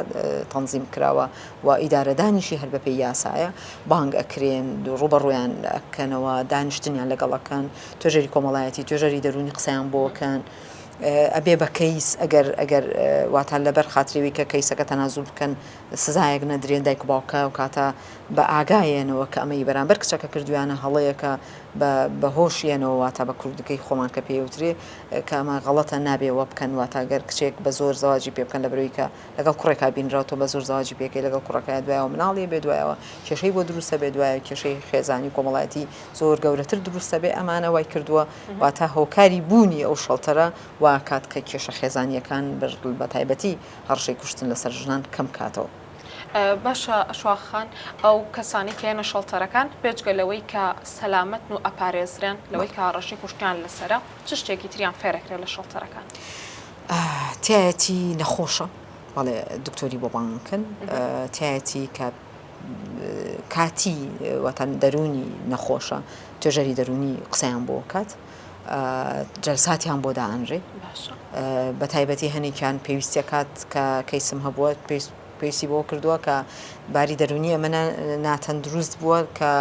تەنزیم کراوە و ئیدارەدانیشی هەر بەپێی یاسایە بانگ ئەکرێن ڕووبەڕوویان ئەکەنەوە دانیشتنیان لەگەڵ ئەکەن توێژەری کۆمەڵایەتی توێژەری دەرونی قسەیان بۆ کەن ئەبێ بە کەیس ئەگەر ئەگەر واتان لەبەر خاتریوی کە کەیسەکە تەنازوو بکەن سزایەک نەدرێن دایک و باوکە و کاتە بە ئاگایەنەوە کە ئەمەی بەرامبەر کچەکە کردویانە هەڵەیەکە بە هۆشیەنەوە واتە بە کوردەکەی خۆمان کە پێوترێ کامە غەڵەتە نابێ وە بکەن واتاگەر کچێک بە زۆر زواجی پێ بکەن لە برەوەیکە لەگەڵ کوڕێکا بینراوتۆ بە زۆر زواجی پێکەی لەگەڵ کوڕەکە دوایەوە مناڵی بێ دوایەوە کێشەی بۆ دروستە بێ دوایە کێشەی خێزانی کۆمەڵایەتی زۆر گەورەتر دروست دەبێت ئەمانە وای کردووە واتە هۆکاری بوونی ئەو شەڵتەرە واکات کە کێشە خێزانیەکان بە تایبەتی هەڕشەی کوشتن لەسەر ژنان کەم کاتەوە. باشە شاخان ئەو کەسانی کێنە شەڵتەرەکان بێجگە لەوەی کە سەلامەتن و ئەپارێزرێن لەوەی کە ڕەشی کوشتیان لەسرە چ شتێکی تریان فێرەکرێت لە شەڵتەرەکان تایەتی نەخۆشە بەڵێ دکتۆری بۆ بانکن تایەتی کە کاتی واتە دەروونی نەخۆشە توێژەری دەروونی قسەیان بۆ کات جەلساتیان بۆ دائەنرێ بە تایبەتی هەنێکیان پێویستە کات کە کەیسم هەبووە پێویست پێویستی بۆ کردووە کە باری دەرونی ئەمە ناتەندروست بووە کە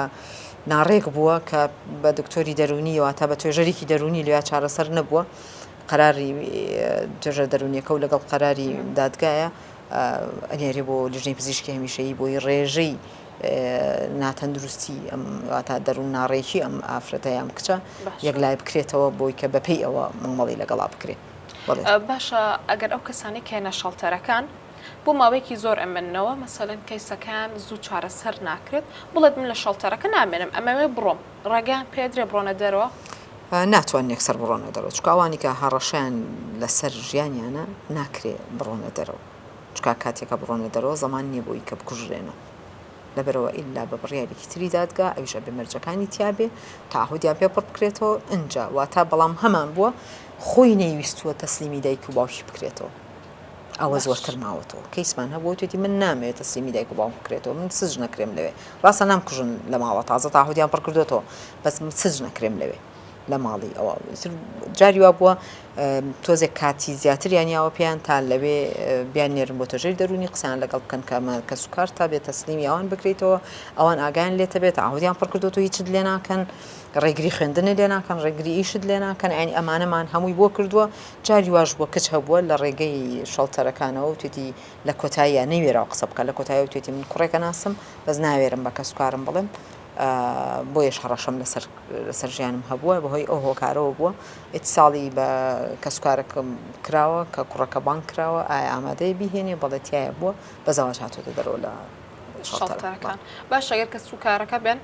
ناڕێک بووە کە بە دکتۆری دەرونیەوە تا بە توێژەرێکی دەرونی لێ چارەسەر نەبووە قەراری توێژە دەرونیەکە و لەگەڵ قەراری دادگایە ئەنێرێ بۆ لیژنەی پزیشکی هەمیشەیی بۆی ڕێژەی ناتەندروستی ئەم واتە دەروون ناڕێکی ئەم ئافرەتە یام کچە یەک لای بکرێتەوە بۆی کە بەپی ئەوە مامەڵی لەگەڵا بکرێت باشە ئەگەر ئەو کەسانی کێنە شەڵتەرەکان بۆ ماوەیەکی زۆر ئەمنەوە مەسەلەن کەیسەکان زوو چارەسەر ناکرێت بڵێت من لە شەڵتەرەکە نامێنم ئەمەوێ بڕۆم ڕێگەیان پێدرێ بڕۆنە دەرەوە ناتوانن یەکسەر بڕۆنە دەرەوە چونکە ئەوانی کە هەڕەشەیان لەسەر ژیانیانە ناکرێ بڕۆنە دەرەوە چونکە کاتێ کە بڕۆنە دەرەوە زەمان نیە بۆی کە بکوژرێنەوە لەبەرئەوە ئیلا بە بڕیارێکی تری دادگا ئەویش ئەبێ مەرجەکانی تیابێ تەعهودیان پێ پڕ بکرێتەوە ئنجا واتا بەڵام هەمان بووە خۆی نەیویستووە تەسلیمی دایک و باوکی بکرێتەوە. ئەوە زۆرتر ماوەتەوە کەیسمان هەبووە وتێتی من نامەوێت تەسلیمی دایک و باوکم بکرێتەوە من سجن نەکرێم لەوێ ڕاستە نامکوژن لە ماڵە تازە تاهودیان پڕ کردوێتەوە بەس سج نەکرێم لەوێ لە ماڵی ئەوە جاری وا بووە تۆزێک کاتی زیاتریان یاوە پێیان تا لەوێ بیان نێرم بۆ تەژێر دەرونی قسان لەگەڵ بکەن کەمە کە سوکار تا بێت تەسلیمی ئەوان بکرێتەوە ئەوان ئاگیان لێتە بێت ئاهودیان پڕ کردو هیچ لێ ناکەن ڕێگری خوێندنە لێ ناکەن ڕێگری ئیشت لێ ناکەن ئەنی ئەمانەمان هەمووی بۆ کردووە جاری واش بووە کچ هەبووە لە ڕێگەی شەڵتەرەکانەوە وتوێتی لە کۆتاییا نەیوێراوە قسە بکات لە کۆتاییەوە وتوێتی من کوڕێک ئەناسم بەس ناوێرم بە کەسوکارم بڵێم بۆیەش هەڕەشەم لەسەر لەسەر ژیانم هەبووە بەهۆی ئەو هۆکارەوە بووە ئیتساڵی بە کەسوکارەکەم کراوە کە کوڕەکە بانک کراوە ئایا ئامادەی بیهێنێ بەڵێتایە بووە بە زەواج هاتۆتە دەرەوە لە شەڵتەرەکان باشە گەر کەسوکارەکە بێن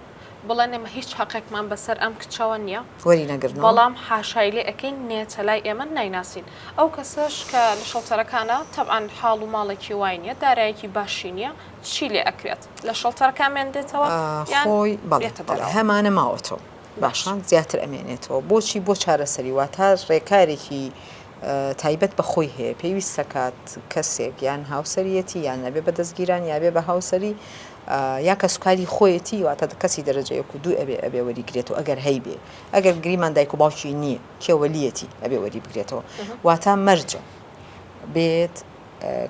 بڵێن ئێمە هیچ هەقێکمان بەسەر ئەم کچەوە نییە وەری نەگرن بەڵام حاشای لێ ئەەکەین نێچە لای ئێمە نایناسین ئەو کەسەش کە لە شەڵتەرەکانە تەبان حاڵ و ماڵێکی وای نیە دارایەکی باشی نییە چی لێ ئەکرێت لە شەڵتەرەکان مێندێتەوە خۆی بەڵێتەبەر هەمانە ماوەتەوە باشان زیاتر ئەمێنێتەوە بۆچی بۆ چارەسەری واتە ڕێکارێکی تایبەت بە خۆی هەیە پێویست سەکات کەسێک یان هاوسەرەتی یان نەبێ بە دەستگیران یاێ بە هاوسری یا کەسوکاری خۆیەتی واتە کەسی دەرەجە یەک و دوو ئەبێ ئەبێ وەری گرێتەوە ئەگەر هەیبێ ئەگەر گریمان دایک و باوکی نییە کێ وەلیەتی ئەبێ وەری بگرێتەوە واتا مەرجە بێت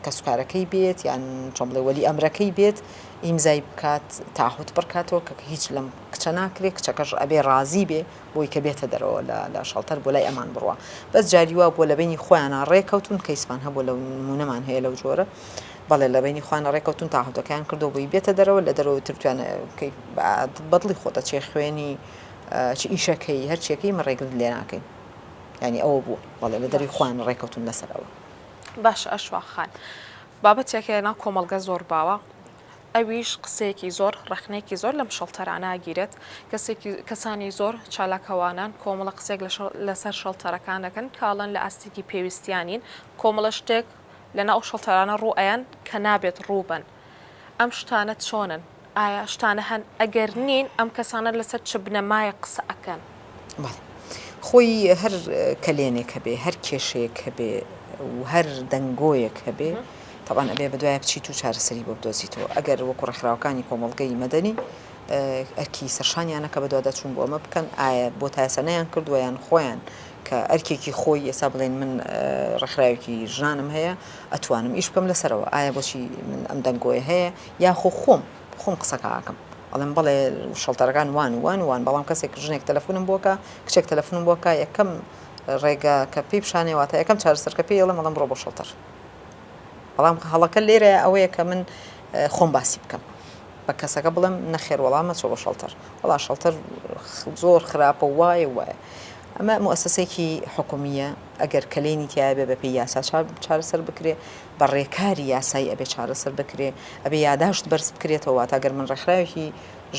کەسوکارەکەی بێت یان چۆن بڵێ وەلی ئەمرەکەی بێت ئیمزای بکات تاحوت بڕکاتەوە کە هیچ لەم کچە ناکرێت کچەکەش ئەبێ ڕازی بێ بۆی کە بێتە دەرەوە لە شەڵتەر بۆ لای ئەمان بڕە بەس جاریوا بۆ لە بینی خۆیانە ڕێکەوتون کەیسمان هەبوو لە نمونەمان هەیە لەو جۆرە بەڵێ لە بەینی خۆیانە ڕێکەوتوون تاهەتەکەیان کردوە بۆی بێتە دەرەوە لە دەرەوە تر توێ نەکەی بەدڵی خۆتە چێ خوێنی چ ئیشەکەی هەرچیەکەی من ڕێگرت لێ ناکەین ینی ئەوە بوو بەڵێ لە دەری خوان ڕێکەوتون لەسەر ئەوە باش ئەشواخان بابەتێکە لە ناو کۆمەلگە زۆر باوە ئەویش قسەیەکی زۆر ڕخنێکی زۆر لەم شەڵتەراناگیرێت کەسێکی کەسانی زۆر چالاکەوانان کۆمەڵە قسێک لەسەر شەڵتەرەکان دەکەن کاڵن لە ئاستێکی پێویستیانین کۆمەڵە شتێک لەناو ئەو شەڵتەرانە ڕوو ئەیەن کە نابێت ڕوو بن. ئەم شتانە چۆنن؟ ئایا شتانە هەن؟ ئەگەر نین ئەم کەسانە لەسەر چ بنەمایەک قسە ئەکەن؟ بەڵێ. خۆی هەر کەلێنێک هەبێ، هەر کێشەیەک هەبێ و هەر دەنگۆیەک هەبێ، تەبعەن ئەبێ بەدوایە بچیت و چارەسەری بۆ بدۆزیتەوە. ئەگەر وەکوو ڕێکخراوەکانی کۆمەڵگەی مەدەنی ئەرکی سەرشانیانە کە بەدواداچوون بۆ ئەمە بکەن، ئایا بۆ تا ئێستا نەیانکردووە یان خۆیان کە ئەرکێکی خۆی ئێستا بڵێن من ڕێکخراوێکی ژنانم هەیە ئەتوانم ئیش بکەم لەسەرەوە ئایا بۆچی من ئەم دەنگۆیە هەیە یاخۆ خۆم خۆم قسەکەکەم ئەڵێم بڵێ شەڵتەرەکان وان وان وان بەڵام کەسێک ژنێک تەلەفۆنم بۆکە کچێک تەلەفۆنم بۆکە یەکەم ڕێگا کە پێی پیشانەوەتە یەکەم چارەسەرکە پێی ئەڵم ئەڵم ڕۆ بۆ شەڵتەر بەڵام هەڵەکە لێرە ئەوەیە کە من خۆم باسی بکەم بە کەسەکە بڵێم نەخێر وەڵا مەچۆ بۆ شەڵتەر وەڵا شەڵتەر زۆر خراپە و وایە و وایە ئەمە موسسەیەکی حکومییە ئەگەر کەلێنی تایە بێ بەپی یاسا چارەسەر بکرێ بە ڕێکاری یاسایی ئەبێ چارەسەر بکرێ ئەبێ یاداشت بەرز بکرێتەوە تا گەر من ڕێکخراوێکی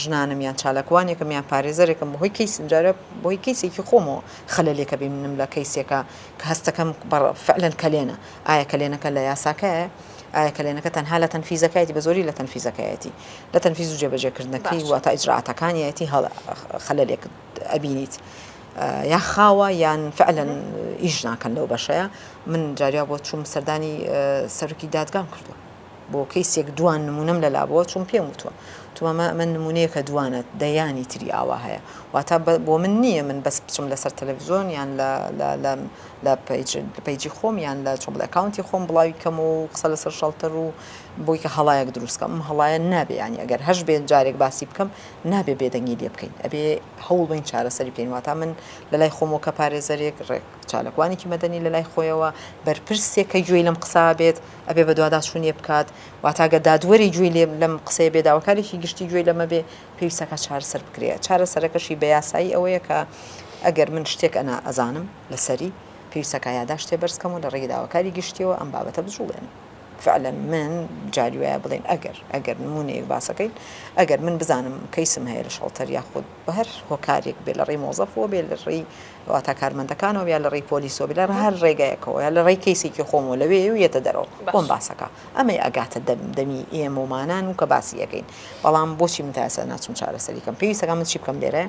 ژنانم یان چالاکوانێکم یان پارێزەرێکم بەهۆی کەی سنجارە بۆی کەیسێکی خۆمەوە خەلەلێکە بینم لە کەیسێکە کە هەستەکەم فعلەن کەلێنە ئایا کەلێنەکە لە یاساکایە ئایا کەلێنەکە تەنها لە تەنفیزەکایەتی بە زۆری لە تەنفیزەکایەتی لە تەنفیز و جێبەجێکردنەکەی باشە واتە ئیجرائاتەکانیایەتی هەڵە خەلەلێک ئەبینیت یا خاوە یان فعلەن مهم. ئیش ناکەن لەو بەشەیە من جاریا بۆ چووم سەردانی سەرکی دادگام کردو بۆ کەیسێک دوان نمونەم لەلا بووە چون پێم وتوە تومامە ئەمە نمونەیەکە دوانە دەیانی تری ئاوا هەیە واتا بۆ من نییە من بەس بچم لەسەر تەلەڤزیۆن یان لە لە پەیجی خۆم یان لە چۆن بڵێ ئەکاونتی خۆم بڵاوی کەم و قسە لەسەر شەڵتەر و بۆی کە هەڵایەک دروستکەم ئەم هەڵایە نابێ ینی ئەگەر هەش بێن جارێک باسی بکەم نابێ بێدەنگی لێ بکەین ئەبێ هەوڵ بین چارەسەری بکەین واتا من لە لای خۆمەوە کە پارێزەرێک ڕێک چالکوانێکی مەدەنی لە لای خۆیەوە بەرپرسێک کە گوێی لەم قسا بێت ئەبێ بە دوادا چونیە بکات واتاگە دادوەری گوێی لێ لەم قسەیە بێداوەکارێکی گشتی گوێی لەمە بێ پێویستەکە چارەسەر بکرێت چارەسەرەکەشی بە یاسایی ئەوەیە کە ئەگەر من شتێک ئەنا ئەزانم لەسەری، پێویستە کا یاداشتێ بەرز کەم و لە ڕێگەی داواکاری گشتییەوە ئەم بابەتە بجووڵێنم. فعلا من جاری وایە بڵێین ئەگەر، ئەگەر نموونەیەک باسەکەین، ئەگەر من بزانم کەیسم هەیە لە شەڵتەر یاخود بە هەر هۆکارێک بێ لە ڕێی مۆزەفەوە بێ لە ڕێی واتا کارمەندەکانەوە یا لە ڕێی پۆلیسەوە بێ لە هەر ڕێگایەکەوە یا لە ڕێی کەیسێکی خۆمەوە لەوێ و یەتە دەرەوە بۆم باسەکە ئەمەی ئەگاتە دەم دەمی ئێمە و مانان و کە باسی ئەکەین بەڵام بۆچی من تا ئێستا ناچم چارەسەری کەم پێویستەکان من چی بکەم لێرە؟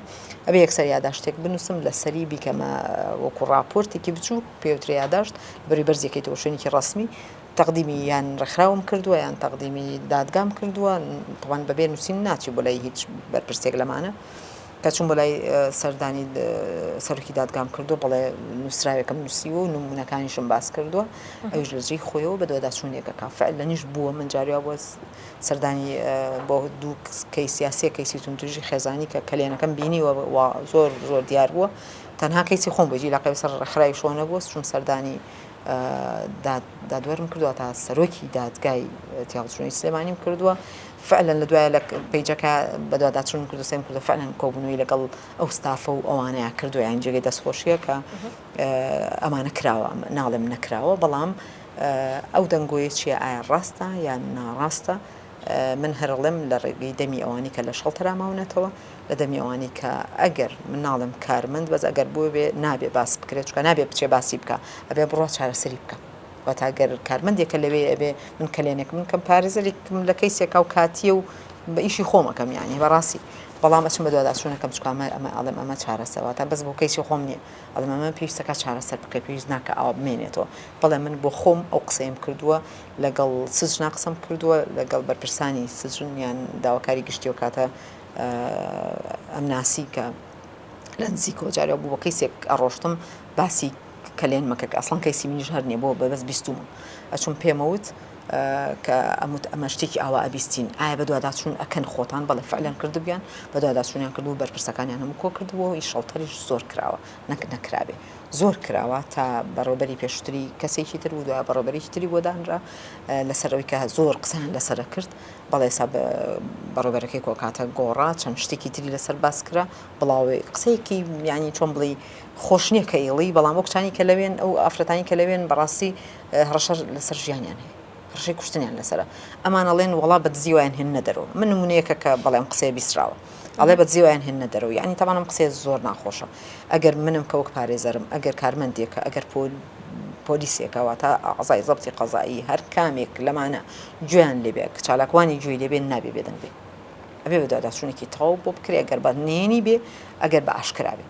ئەبێ یەکسەر یاداشتێک بنووسم لە سەری بیکەمە وەکو ڕاپۆرتێکی بچوو پێوترێ یاداشت بەری بەرزێکی تۆشوێنێکی ڕسمی تەقدیمی یان ڕێکخراوم کردووە یان تەقدیمی دادگام کردووە تەوان بەبێ نووسین ناچی بۆ لای هیچ بەرپرسێک لەمانە کە چون بۆ لای سەردانی سەرکی دادگام کردو بڵێ نووسراوێکم نووسی و نمونونەکانیشم باس کردووە ئەوش لەجێی خۆیەوە بە دۆداچوونێکەکە فعل لەنیش بووە من جاریا بۆ سەردانی بۆ دوو کەیس یا سێ کەیسی توندوتیژی خێزانی کە کەلێنەکەم بینیوە و زۆر زۆر دیار بووە تەنها کەیسی خۆم بۆ جیلاقی بەسەر ڕێکخراوی شۆ نەبووە چوم سەردانی دادوەرم کردووە تا سەرۆکی دادگای تیاوچوونی سلێمانیم کردووە فعلەن لە دوایە لە پیجەکە بەدواداچون کردو سێم کردو فعلەن کۆبوونەوەی لەگەڵ ئەو ستافە و ئەوانەیە کردویان جێگەی دەستخۆشیە کە ئەمانە کراوە ناڵێم نەکراوە بەڵام ئەو دەنگۆیە چیە ئایا ڕاستە یان ناڕاستە من هەرڵێم لە ڕێگەی دەمی ئەوانی کە لە شەڵتەرا ماونەتەوە لە دەمی ئەوانی کە ئەگەر من ناڵێم کارمەند بەس ئەگەر بۆ بێ نابێ باس بکرێت چکە نابێ بچێ باسی بکە ئەبێ بڕە چارەسەری بکە واتاگەر کارمەندێکە لەوێ ئەبێ من کەلێنێک من کەم پارێزەرێکم لە کەیسێکا و کاتیە و بە ئیشی خۆمەکەم یانی بەڕاستی بەڵام ئەچم بە دواداچوونەکەم چکامە ئەمە ئەڵێم ئەمە چارەسەوە تا بەس بۆ کەیسی خۆم نییە ئەڵێ مامە پێویستە کا چارەسەر بکەی پێویست ناکە ئاوا بمێنێتەوە بەڵێ من بۆ خۆم ئەو قسەیم کردووە لەگەڵ سجنا قسەم کردووە لەگەڵ بەرپرسانی سجن یان داواکاری گشتی و کاتە ئەم ناسی کە لە نزیک کۆجارەوە بوو بە کەیسێک ئەڕۆشتم باسی کەلێن مەکە کە ئەسڵان کەیسی منیش هەر نیە بۆ بەبەست بیستومە ئەچوم پێمەوت کە ئەموت ئەمە شتێکی ئاوا ئەبیستین ئایا بەدواداچوون ئەکەن خۆتان بەڵێ فعلەن کردبیان بەدواداچوونیان کردو بەرپرسەکانیان هەموو کۆ کردبوو ئی شەڵتەریش زۆر کراوە نەک نەکرابێ زۆر کراوە تا بەڕێوبەری پێشتری کەسێکی تر و دوای بەڕێوبەرێکی تری بۆدانرا لەسەر ئەوی کە زۆر قسەیان لەسەر کرد بەڵێ سا بەڕێوبەرەکەی کۆکاتە گۆڕا چەند شتێکی تری لەسەر باس کرا بڵاوێ قسەیەکی میانی چۆن بڵی خۆشنیە کە ئێڵی بەڵام وەکچانی کە لەوێن ئەو ئافرەتانی کە لەوێن بەڕاستی هەڕەشە لەسەر ژیانیان هەیە هەڕەشەی کوشتنیان لەسەرە ئەمان ئەڵێن وەڵا بە دزی وایان هێننە دەرەوە من نمونەیەکە کە بەڵێم قسەیە بیسراوە ئەڵێ بە دزی وایان هێننە دەرەوە یعنی تاوان ئەم قسەیە زۆر ناخۆشە ئەگەر منم کە وەک پارێزەرم ئەگەر کارمەندێکە ئەگەر پۆل پۆلیسێکە واتە ئەعزای زەبتی قەزایی هەر کامێک لەمانە گوێیان لێبێ کە چالاکوانی گوێی لێبێ نابێ بێدەنگ بێ ئەبێ بە دواداچوونێکی تەواو بۆ بکرێ ئەگەر بە نهێنی بێ ئەگەر بە ئاشکرا بێ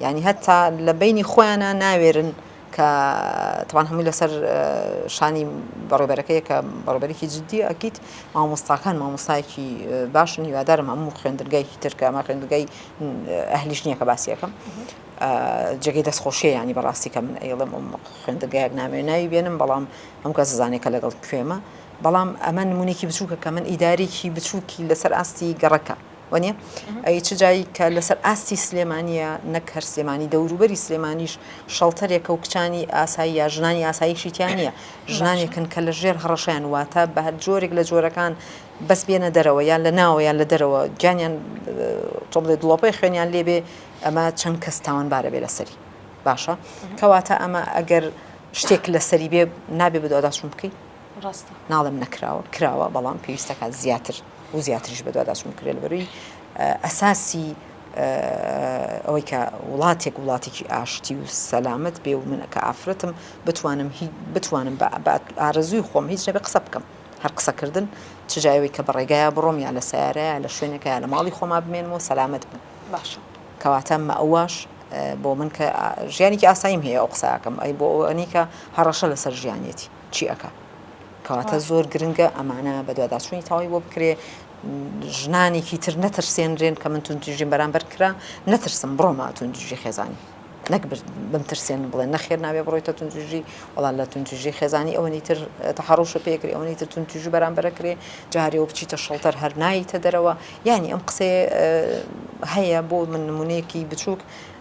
یانی هەتا لە بەینی خۆیانا ناوێرن کە تەبان هەمووی لەسەر شانی بەڕێبەرەکەیە کە بەڕێبەرێکی جددی ئەکییت مامۆستاکان مامۆستایەکی باشن هیوادارم هەموو خوێندرگایکی ترکە ئەمە خوێندگای ئەهلیش نییە کە باسیەکەم جێگەی دەستخۆشیە ینی بەڕاستی کە من ئەیڵم ئەم خوێندگایەک نامێ ناوی بێنم بەڵام ئەم کە زانێکە لەگەڵ کوێمە بەڵام ئەمە نمونێکی بچووکە کە من ئیدارێکی بچووکی لەسەر ئاستی گەڕەکە وەنیە ئەی چ جای کە لەسەر ئاستی سلێمانیە نەک هەر سلێمانی دەوروبەری سلێمانیش شەڵتەرێکە و کچانی ئاسایی یا ژنانی ئاساییشیتیانە ژنانێکن کە لە ژێر هەڕەشەیان واتە بە هەر جۆرێک لە جۆرەکان بەس بێنە دەرەوە یان لە ناوە یان لە دەرەوە گیانیان تۆڵێ دڵۆپەی خوێنیان لێبێ ئەمە چەند کەس تاوانبارە بێ لەسەری باشە کەواتە ئەمە ئەگەر شتێک لەسەری بێ نابێ بدۆداچون بکەیت ڕاستە. ناڵێم نەکراوە، کراوە، بەڵام پێویستەکات زیاتر و زیاتریش بەدواداچوون بکرێت لەبەروی ئەساسی ئەوەی کە وڵاتێک وڵاتێکی ئاشتی و سەلامەت بێ و من کە ئافرەتم بتوانم بتوانم بە ئارەزووی خۆم هیچ نەبێ قسە بکەم هەر قسەکردن چ جای ئەوەی کە بە ڕێگایە بڕۆم یا لە سیارەیە لە شوێنێکە لە ماڵی خۆما بمێنمەوە سەلامەت بم باشە کەواتە مەواش بۆ من کە ژیانێکی ئاساییم هەیە ئەو قساکەم ئەی بۆ ئەوەنی کە هەڕەشە لەسەر ژیانێتی چی ئەکا کەواتە زۆر گرنگە ئەمانە بەدواداچوونی تەواوی بۆ بکرێ ژنانێکی تر نەترسێنرێن کە من تونتیژیم بەرامبەر کرا نەترسم بڕۆمە تونتیژی خێزانی نەک بم ترسێن بڵێن نەخێر ناوێ بڕۆیتە تونتیژی وڵا لە تونتیژی خێزانی ئەوەنی تر تەحڕوشە پێکری ئەوەنی تر تونتیژی بەرامبەر کرێ جارەوە بچیتە شەڵتەر هەرنایتە دەرەوە یعنی ئەم قسێ هەیە بۆ من نمونەیەکی بچووک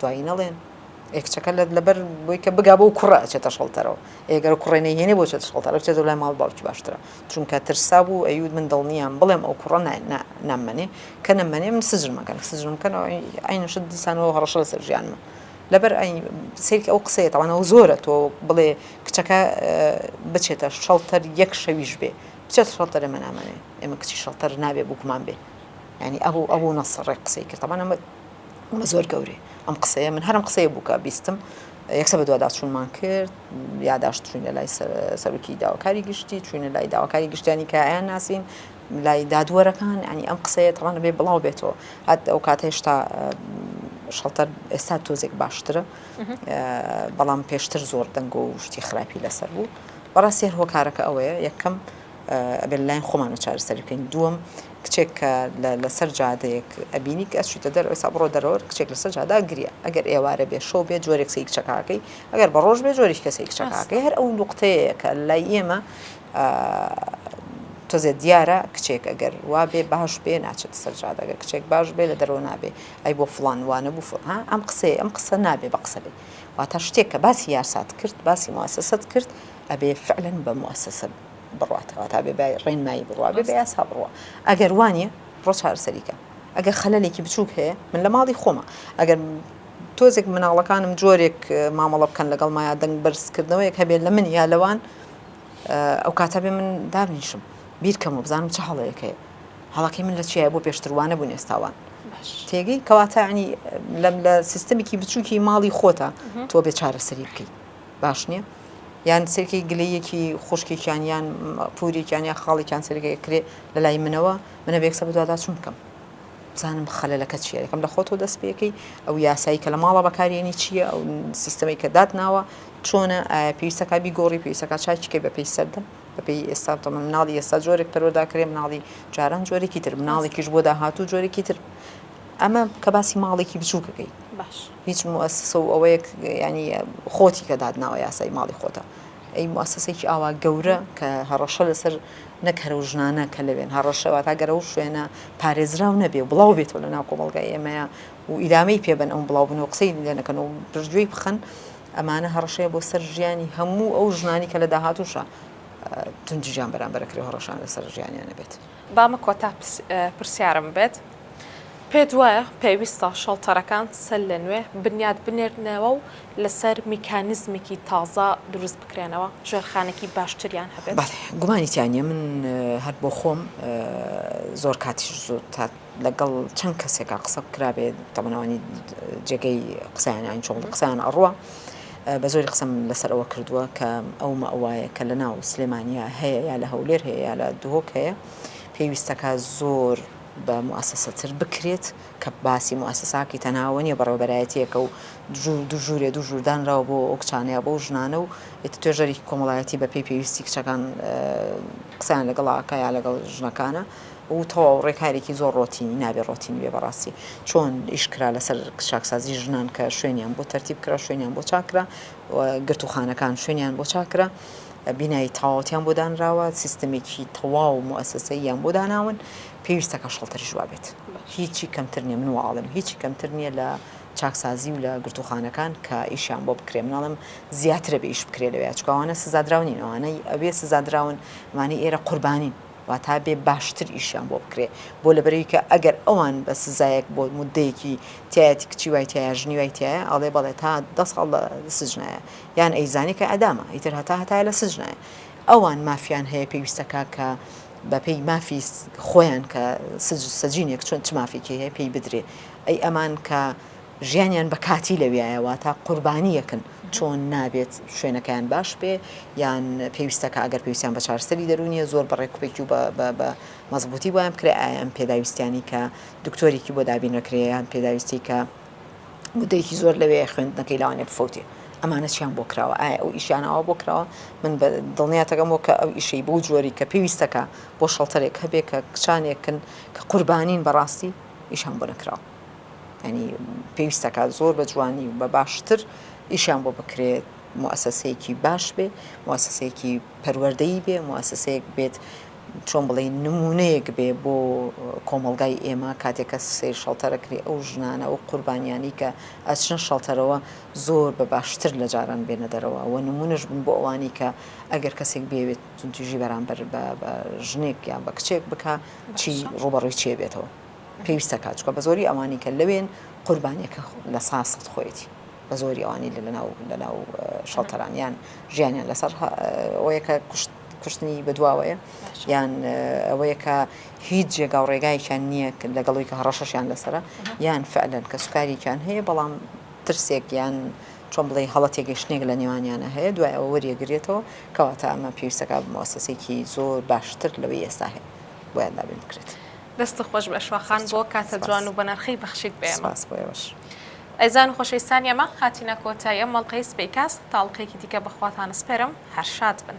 دوایی نەڵێن ئێ کچەکە لە لەبەر بۆی کە بگا بۆ کوڕە ئەچێتە شەڵتەرەوە ئێگەر کوڕێ نەیهێنێ بۆ چێتە شەڵتەرە بچێتە لای ماڵ باوکی باشترە چونکە ترسا بوو ئەیود من دڵنیام بڵێم ئەو کوڕە نامەنێ کە نەمەنێ من سجنمەکەن سجنمکەنەوە ئەینەشت دیسانەوە هەڕەشە لەسەر ژیانمە لەبەر ئەین سیرک ئەو قسەیە تاوانەوە زۆرە تۆ بڵێ کچەکە بچێتە شەڵتەر یەک شەویش بێ بچێت شەڵتەرە مەنامەنێ ئێمە کچی شەڵتەر نابێ بووکمان بێ ینی ئەو ئەو نەسڕێک قسەی کردەمانە وڵە زۆر گەورەی ئەم قسەیە من هەرم قسەیە بووکە بیستم یەکسە بە دوواداچوونمان کرد یاداشت چوینە لای سەرکی داواکاری گشتی چوینە لای داواکاری گشتیانی کایان ناسین لای دادوەرەکان ئەنی ئەم قسەیە تەوانە بێ بڵاو بێتەوە هەت ئەو کات هێشتا شەڵتەر ئێستا تۆزێک باشترە بەڵام پێشتر زۆر دەنگ و شتی خراپی لەسەر بوو بەڕاستی هۆکارەکە ئەوەیە یەکەم ئەبێ لەلایەن خۆمانەوە چارەسەری بکەین دووەم کچێک کە لەسەر جادەیەک ئەبینی کە ئەچیتە دەر ئەوسا بڕۆ دەرەوە کچێک لەسەر جادا گریە ئەگەر ئێوارە بێ شەو بێ جۆرێک سی کچەکەکەی ئەگەر بە ڕۆژ بێ جۆری کەسی کچەکەکەی هەر ئەو نقطەیە کە لای ئێمە تۆزێ دیارە کچێک ئەگەر وا بێ باش بێ ناچێت سەر جادەگە کچێک باش بێ لە دەرەوە نابێ ئەی بۆ فلان وانە بوو فها ئەم قسەیە ئەم قسە نابێ بە قسە بێ واتا شتێک کە باسی یاسات کرد باسی موسەست کرد ئەبێ فعلەن بە موئەسەسە بڕوات واتا ئەبێ بە ڕێنمایی بڕوا ئەبێ بە یاسا بڕوا ئەگەر وا نیە ڕۆ چارەسەری کە ئەگەر خەلەلێکی بچووک هەیە من لە ماڵی خۆمە ئەگەر تۆزێک مناڵەکانم جۆرێک مامەڵە بکەن لەگەڵ مایا دەنگ بەرزکردنەوەیەک هەبێت لە من یا لەوان ئەو کاتە بێ من دابنیشم بیرکەم و بزانم چ هەڵەیەکەیە هەڵەکەی من لە چیە بۆ پێشتروانە بوون ئێستاوان تێگەی کەواتانی لەم لە سیستمێکی بچووکی ماڵی خۆتە تۆ بێ چارەسەری بکەیت باش نیە یان سرکەی گلەییەکی خوشکێکیان یان پورێکیان یا خاڵێکیان سرگەیە کرێ لە لای منەوە منە بێکسە بدوادا چون بکەم بزانم خەلەکە چیە یەکەم لە خۆتۆ دەست پێەکەی ئەو یاسایی کە لە ماڵە بەکارێنی چییە ئەو سیستەمی کە دات ناوە چۆنە پێویستەکە بیگۆڕی پێویستەکە چاچکە بە پێی سەردە بەپی ئێستا تە مناڵی ئێستا جۆرێک پەرۆداکرێ مناڵی جاران جۆرێکی تر مناڵێکیش بۆ داهاتوو جۆرێکی تر ئەمە کە باسی ماڵێکی بچووکەکەی باش. هیچ موئەسسە و ئەوەیەک یانی خۆتی کە دادناوە یاسای ماڵی خۆتە ئەی موئەسسەیەکی ئاوا گەورە کە هەڕەشە لەسەر نەک هەرە و ژنانە کە لەوێن هەڕەشە واتا گەر ئەو شوێنە پارێزراو نەبێ و بڵاو بێتەوە لە ناو کۆمەڵگای ئێمەیا و ئیدامەی پێ بەن ئەو بڵاو بن و قسەی لێ نەکەن و پشتگوێی بخەن ئەمانە هەڕەشەیە بۆ سەر ژیانی هەموو ئەو ژنانی کە لە داهاتووشە توندوتیژیان بەرامبەر ئەکرێ و هەڕەشەیان لەسەر ژیانیان نەبێت. بامە کۆتا پرسیارم بێت پێت وایە پێویستە شەڵتەرەکان سەر لە نوێ بنیات بنێرنەوە و لەسەر میکانیزمێکی تازە دروست بکرێنەوە ژێرخانێکی باشتریان هەبێت گومانی تیانە من هەر بۆ خۆم زۆر کاتیش زۆر تا لەگەڵ چەند کەسێکا قسە بکرابێت تەمەنەوانی جێگەی قسەیانیان چۆڵ قسەیان ئەڕوە بە زۆری قسەم لەسەر ئەوە کردووە کە ئەو مەئوایە کە لە ناو سلێمانیا هەیە یا لە هەولێر هەیە یا لە دهۆک هەیە پێویستەکە زۆر بە موسەسەتر بکرێت کە باسی موسەساکی تەناوە نیە بەڕێوبەرایەتیەکە و دوو ژوورێ دوو ژووردانراوە بۆ ئەو کچانەیە بۆ ژنانە و توێژەری کۆمەڵایەتی بە پێی پێویستی کچەکان قسەیان لەگەڵاکە یا لەگەڵ ژنەکانە و تەواو ڕێکارێکی زۆر ڕۆتینی نابێ ڕۆتینی بێ بەڕاستی چۆن ئیش کرا لەسەر چاکسازی ژنان کە شوێنیان بۆ تەرتیب کرا شوێنیان بۆ چاکرا گرتوخانەکان شوێنیان بۆ چاکرا بینایی تەواوتیان بۆ دانراوە سیستمێکی تەواو و موسسەیان بۆ داناون پێویستەکە شڵتر ژوابێت هیچی کەمتر نیە من واڵم هیچی کەمتر نییە لە چاکسازی و لە گرتوخانەکان کە ئیشیان بۆ بکرێ مناڵم زیاترە بە ئیش بکرێ لەوێ چکوانە سزادراونینەوانەی ئەوێ سزادراون مانی ئێرە قوربانین واتا بێ باشتر ئیشیان بۆ بکرێ بۆ لەبەرەوی کە ئەگەر ئەوان بە سزایەک بۆ مدەیەکی تایەتی کچی وای تایە ژنی وای تایە ئەڵێ بەڵێ تا دە ساڵ لە سجنایە یان ئەیزانی کە ئەدامە ئیتر هەتا هەتایە لە سجنایە ئەوان مافیان هەیە پێویستەکە کە بەپێی مافی خۆیان کە سجینێک چۆن چ مافێکی هەیە پێی بدرێ ئەی ئەمان کە ژیانیان بە کاتی لەویایە واتا قوربانی یەکن چۆن نابێت شوێنەکەیان باش بێ یان پێویستە کە ئەگەر پێویستیان بە چارسەری دەرونیە زۆر بە ڕێکوپێکی و بە مەزبوتی وایان بکرێ ئایان پێداویستیانی کە دکتۆرێکی بۆ دابین نەکرێیان پێداویستی کە مدەیەکی زۆر لەوێ خوێندنەکەی لاوانێ بفوتی ئەمانە چیان بۆ کراوە ئایا ئەو ئیشیانەوە بۆ کراوە من بە دڵنیاتەکەم وە کە ئەو ئیشەی بۆ جۆری کە پێویستەکە بۆ شەڵتەرێک هەبێ کە کچانێکن کە قوربانین بەڕاستی ئیشان بۆ نەکراوە یانی پێویست دەکات زۆر بە جوانی و بە باشتر ئیشان بۆ بکرێت موسسەیەکی باش بێ موسسەیەکی پەروەەردەی بێ موسسەیەک بێت چۆن بڵێ نمونەیەک بێ بۆ کۆمەلگای ئێمە کاتێکە سێر شەڵتەرەکری ئەو ژنانە و قوربانیانی کە ئەچنە شەڵتەرەوە زۆر بە باشتر لە جاران بێنە دەرەوە و نمونەش بن بۆ ئەوانی کە ئەگەر کەسێک بێوێت تونتیژی بەرامبەر بە ژنێک یان بە کچێک بک چی ڕوبەڕوی چێ بێتەوە. پێویستە کات چکە بەزۆری ئەوانی کە لەوێن قوربانیە کە لە سا سەد خۆیەتی بەزۆری ئەوانی لە لەناو لەناو شەڵتەرانیان ژیانیان لەسەر ئەوەیە کە کوشت کوشتنی بەدواوەیە یان ئەوەیە کە هیچ جێگا و ڕێگایکیان نییە لەگەڵی کە هەڕەشەشیان لەسرە یان فعلەن کە سوکاریان هەیە بەڵام ترسێک یان چۆن بڵێ هەڵە تێگەشتێک لە نێوانیانە هەیە دوای ئەوە وەریەگرێتەوە کەواتە ئەمە پێویستەکە بمەوەسەسێکی زۆر باشتر لەوەی ئێستا هەیە بۆیان دابین بکرێت. دەست خۆش بەشوا خان بۆ کاتە جوان و بەنرخەی بەخشیت بێ سپاس بۆ ئێوەش ئەزان خۆشەویستانی ئەمە هاتینە کۆتای ئەم مەڵقەی سپی کاس تاڵقێکی دیکە بەخواتان سپێرم هەر شاد بن.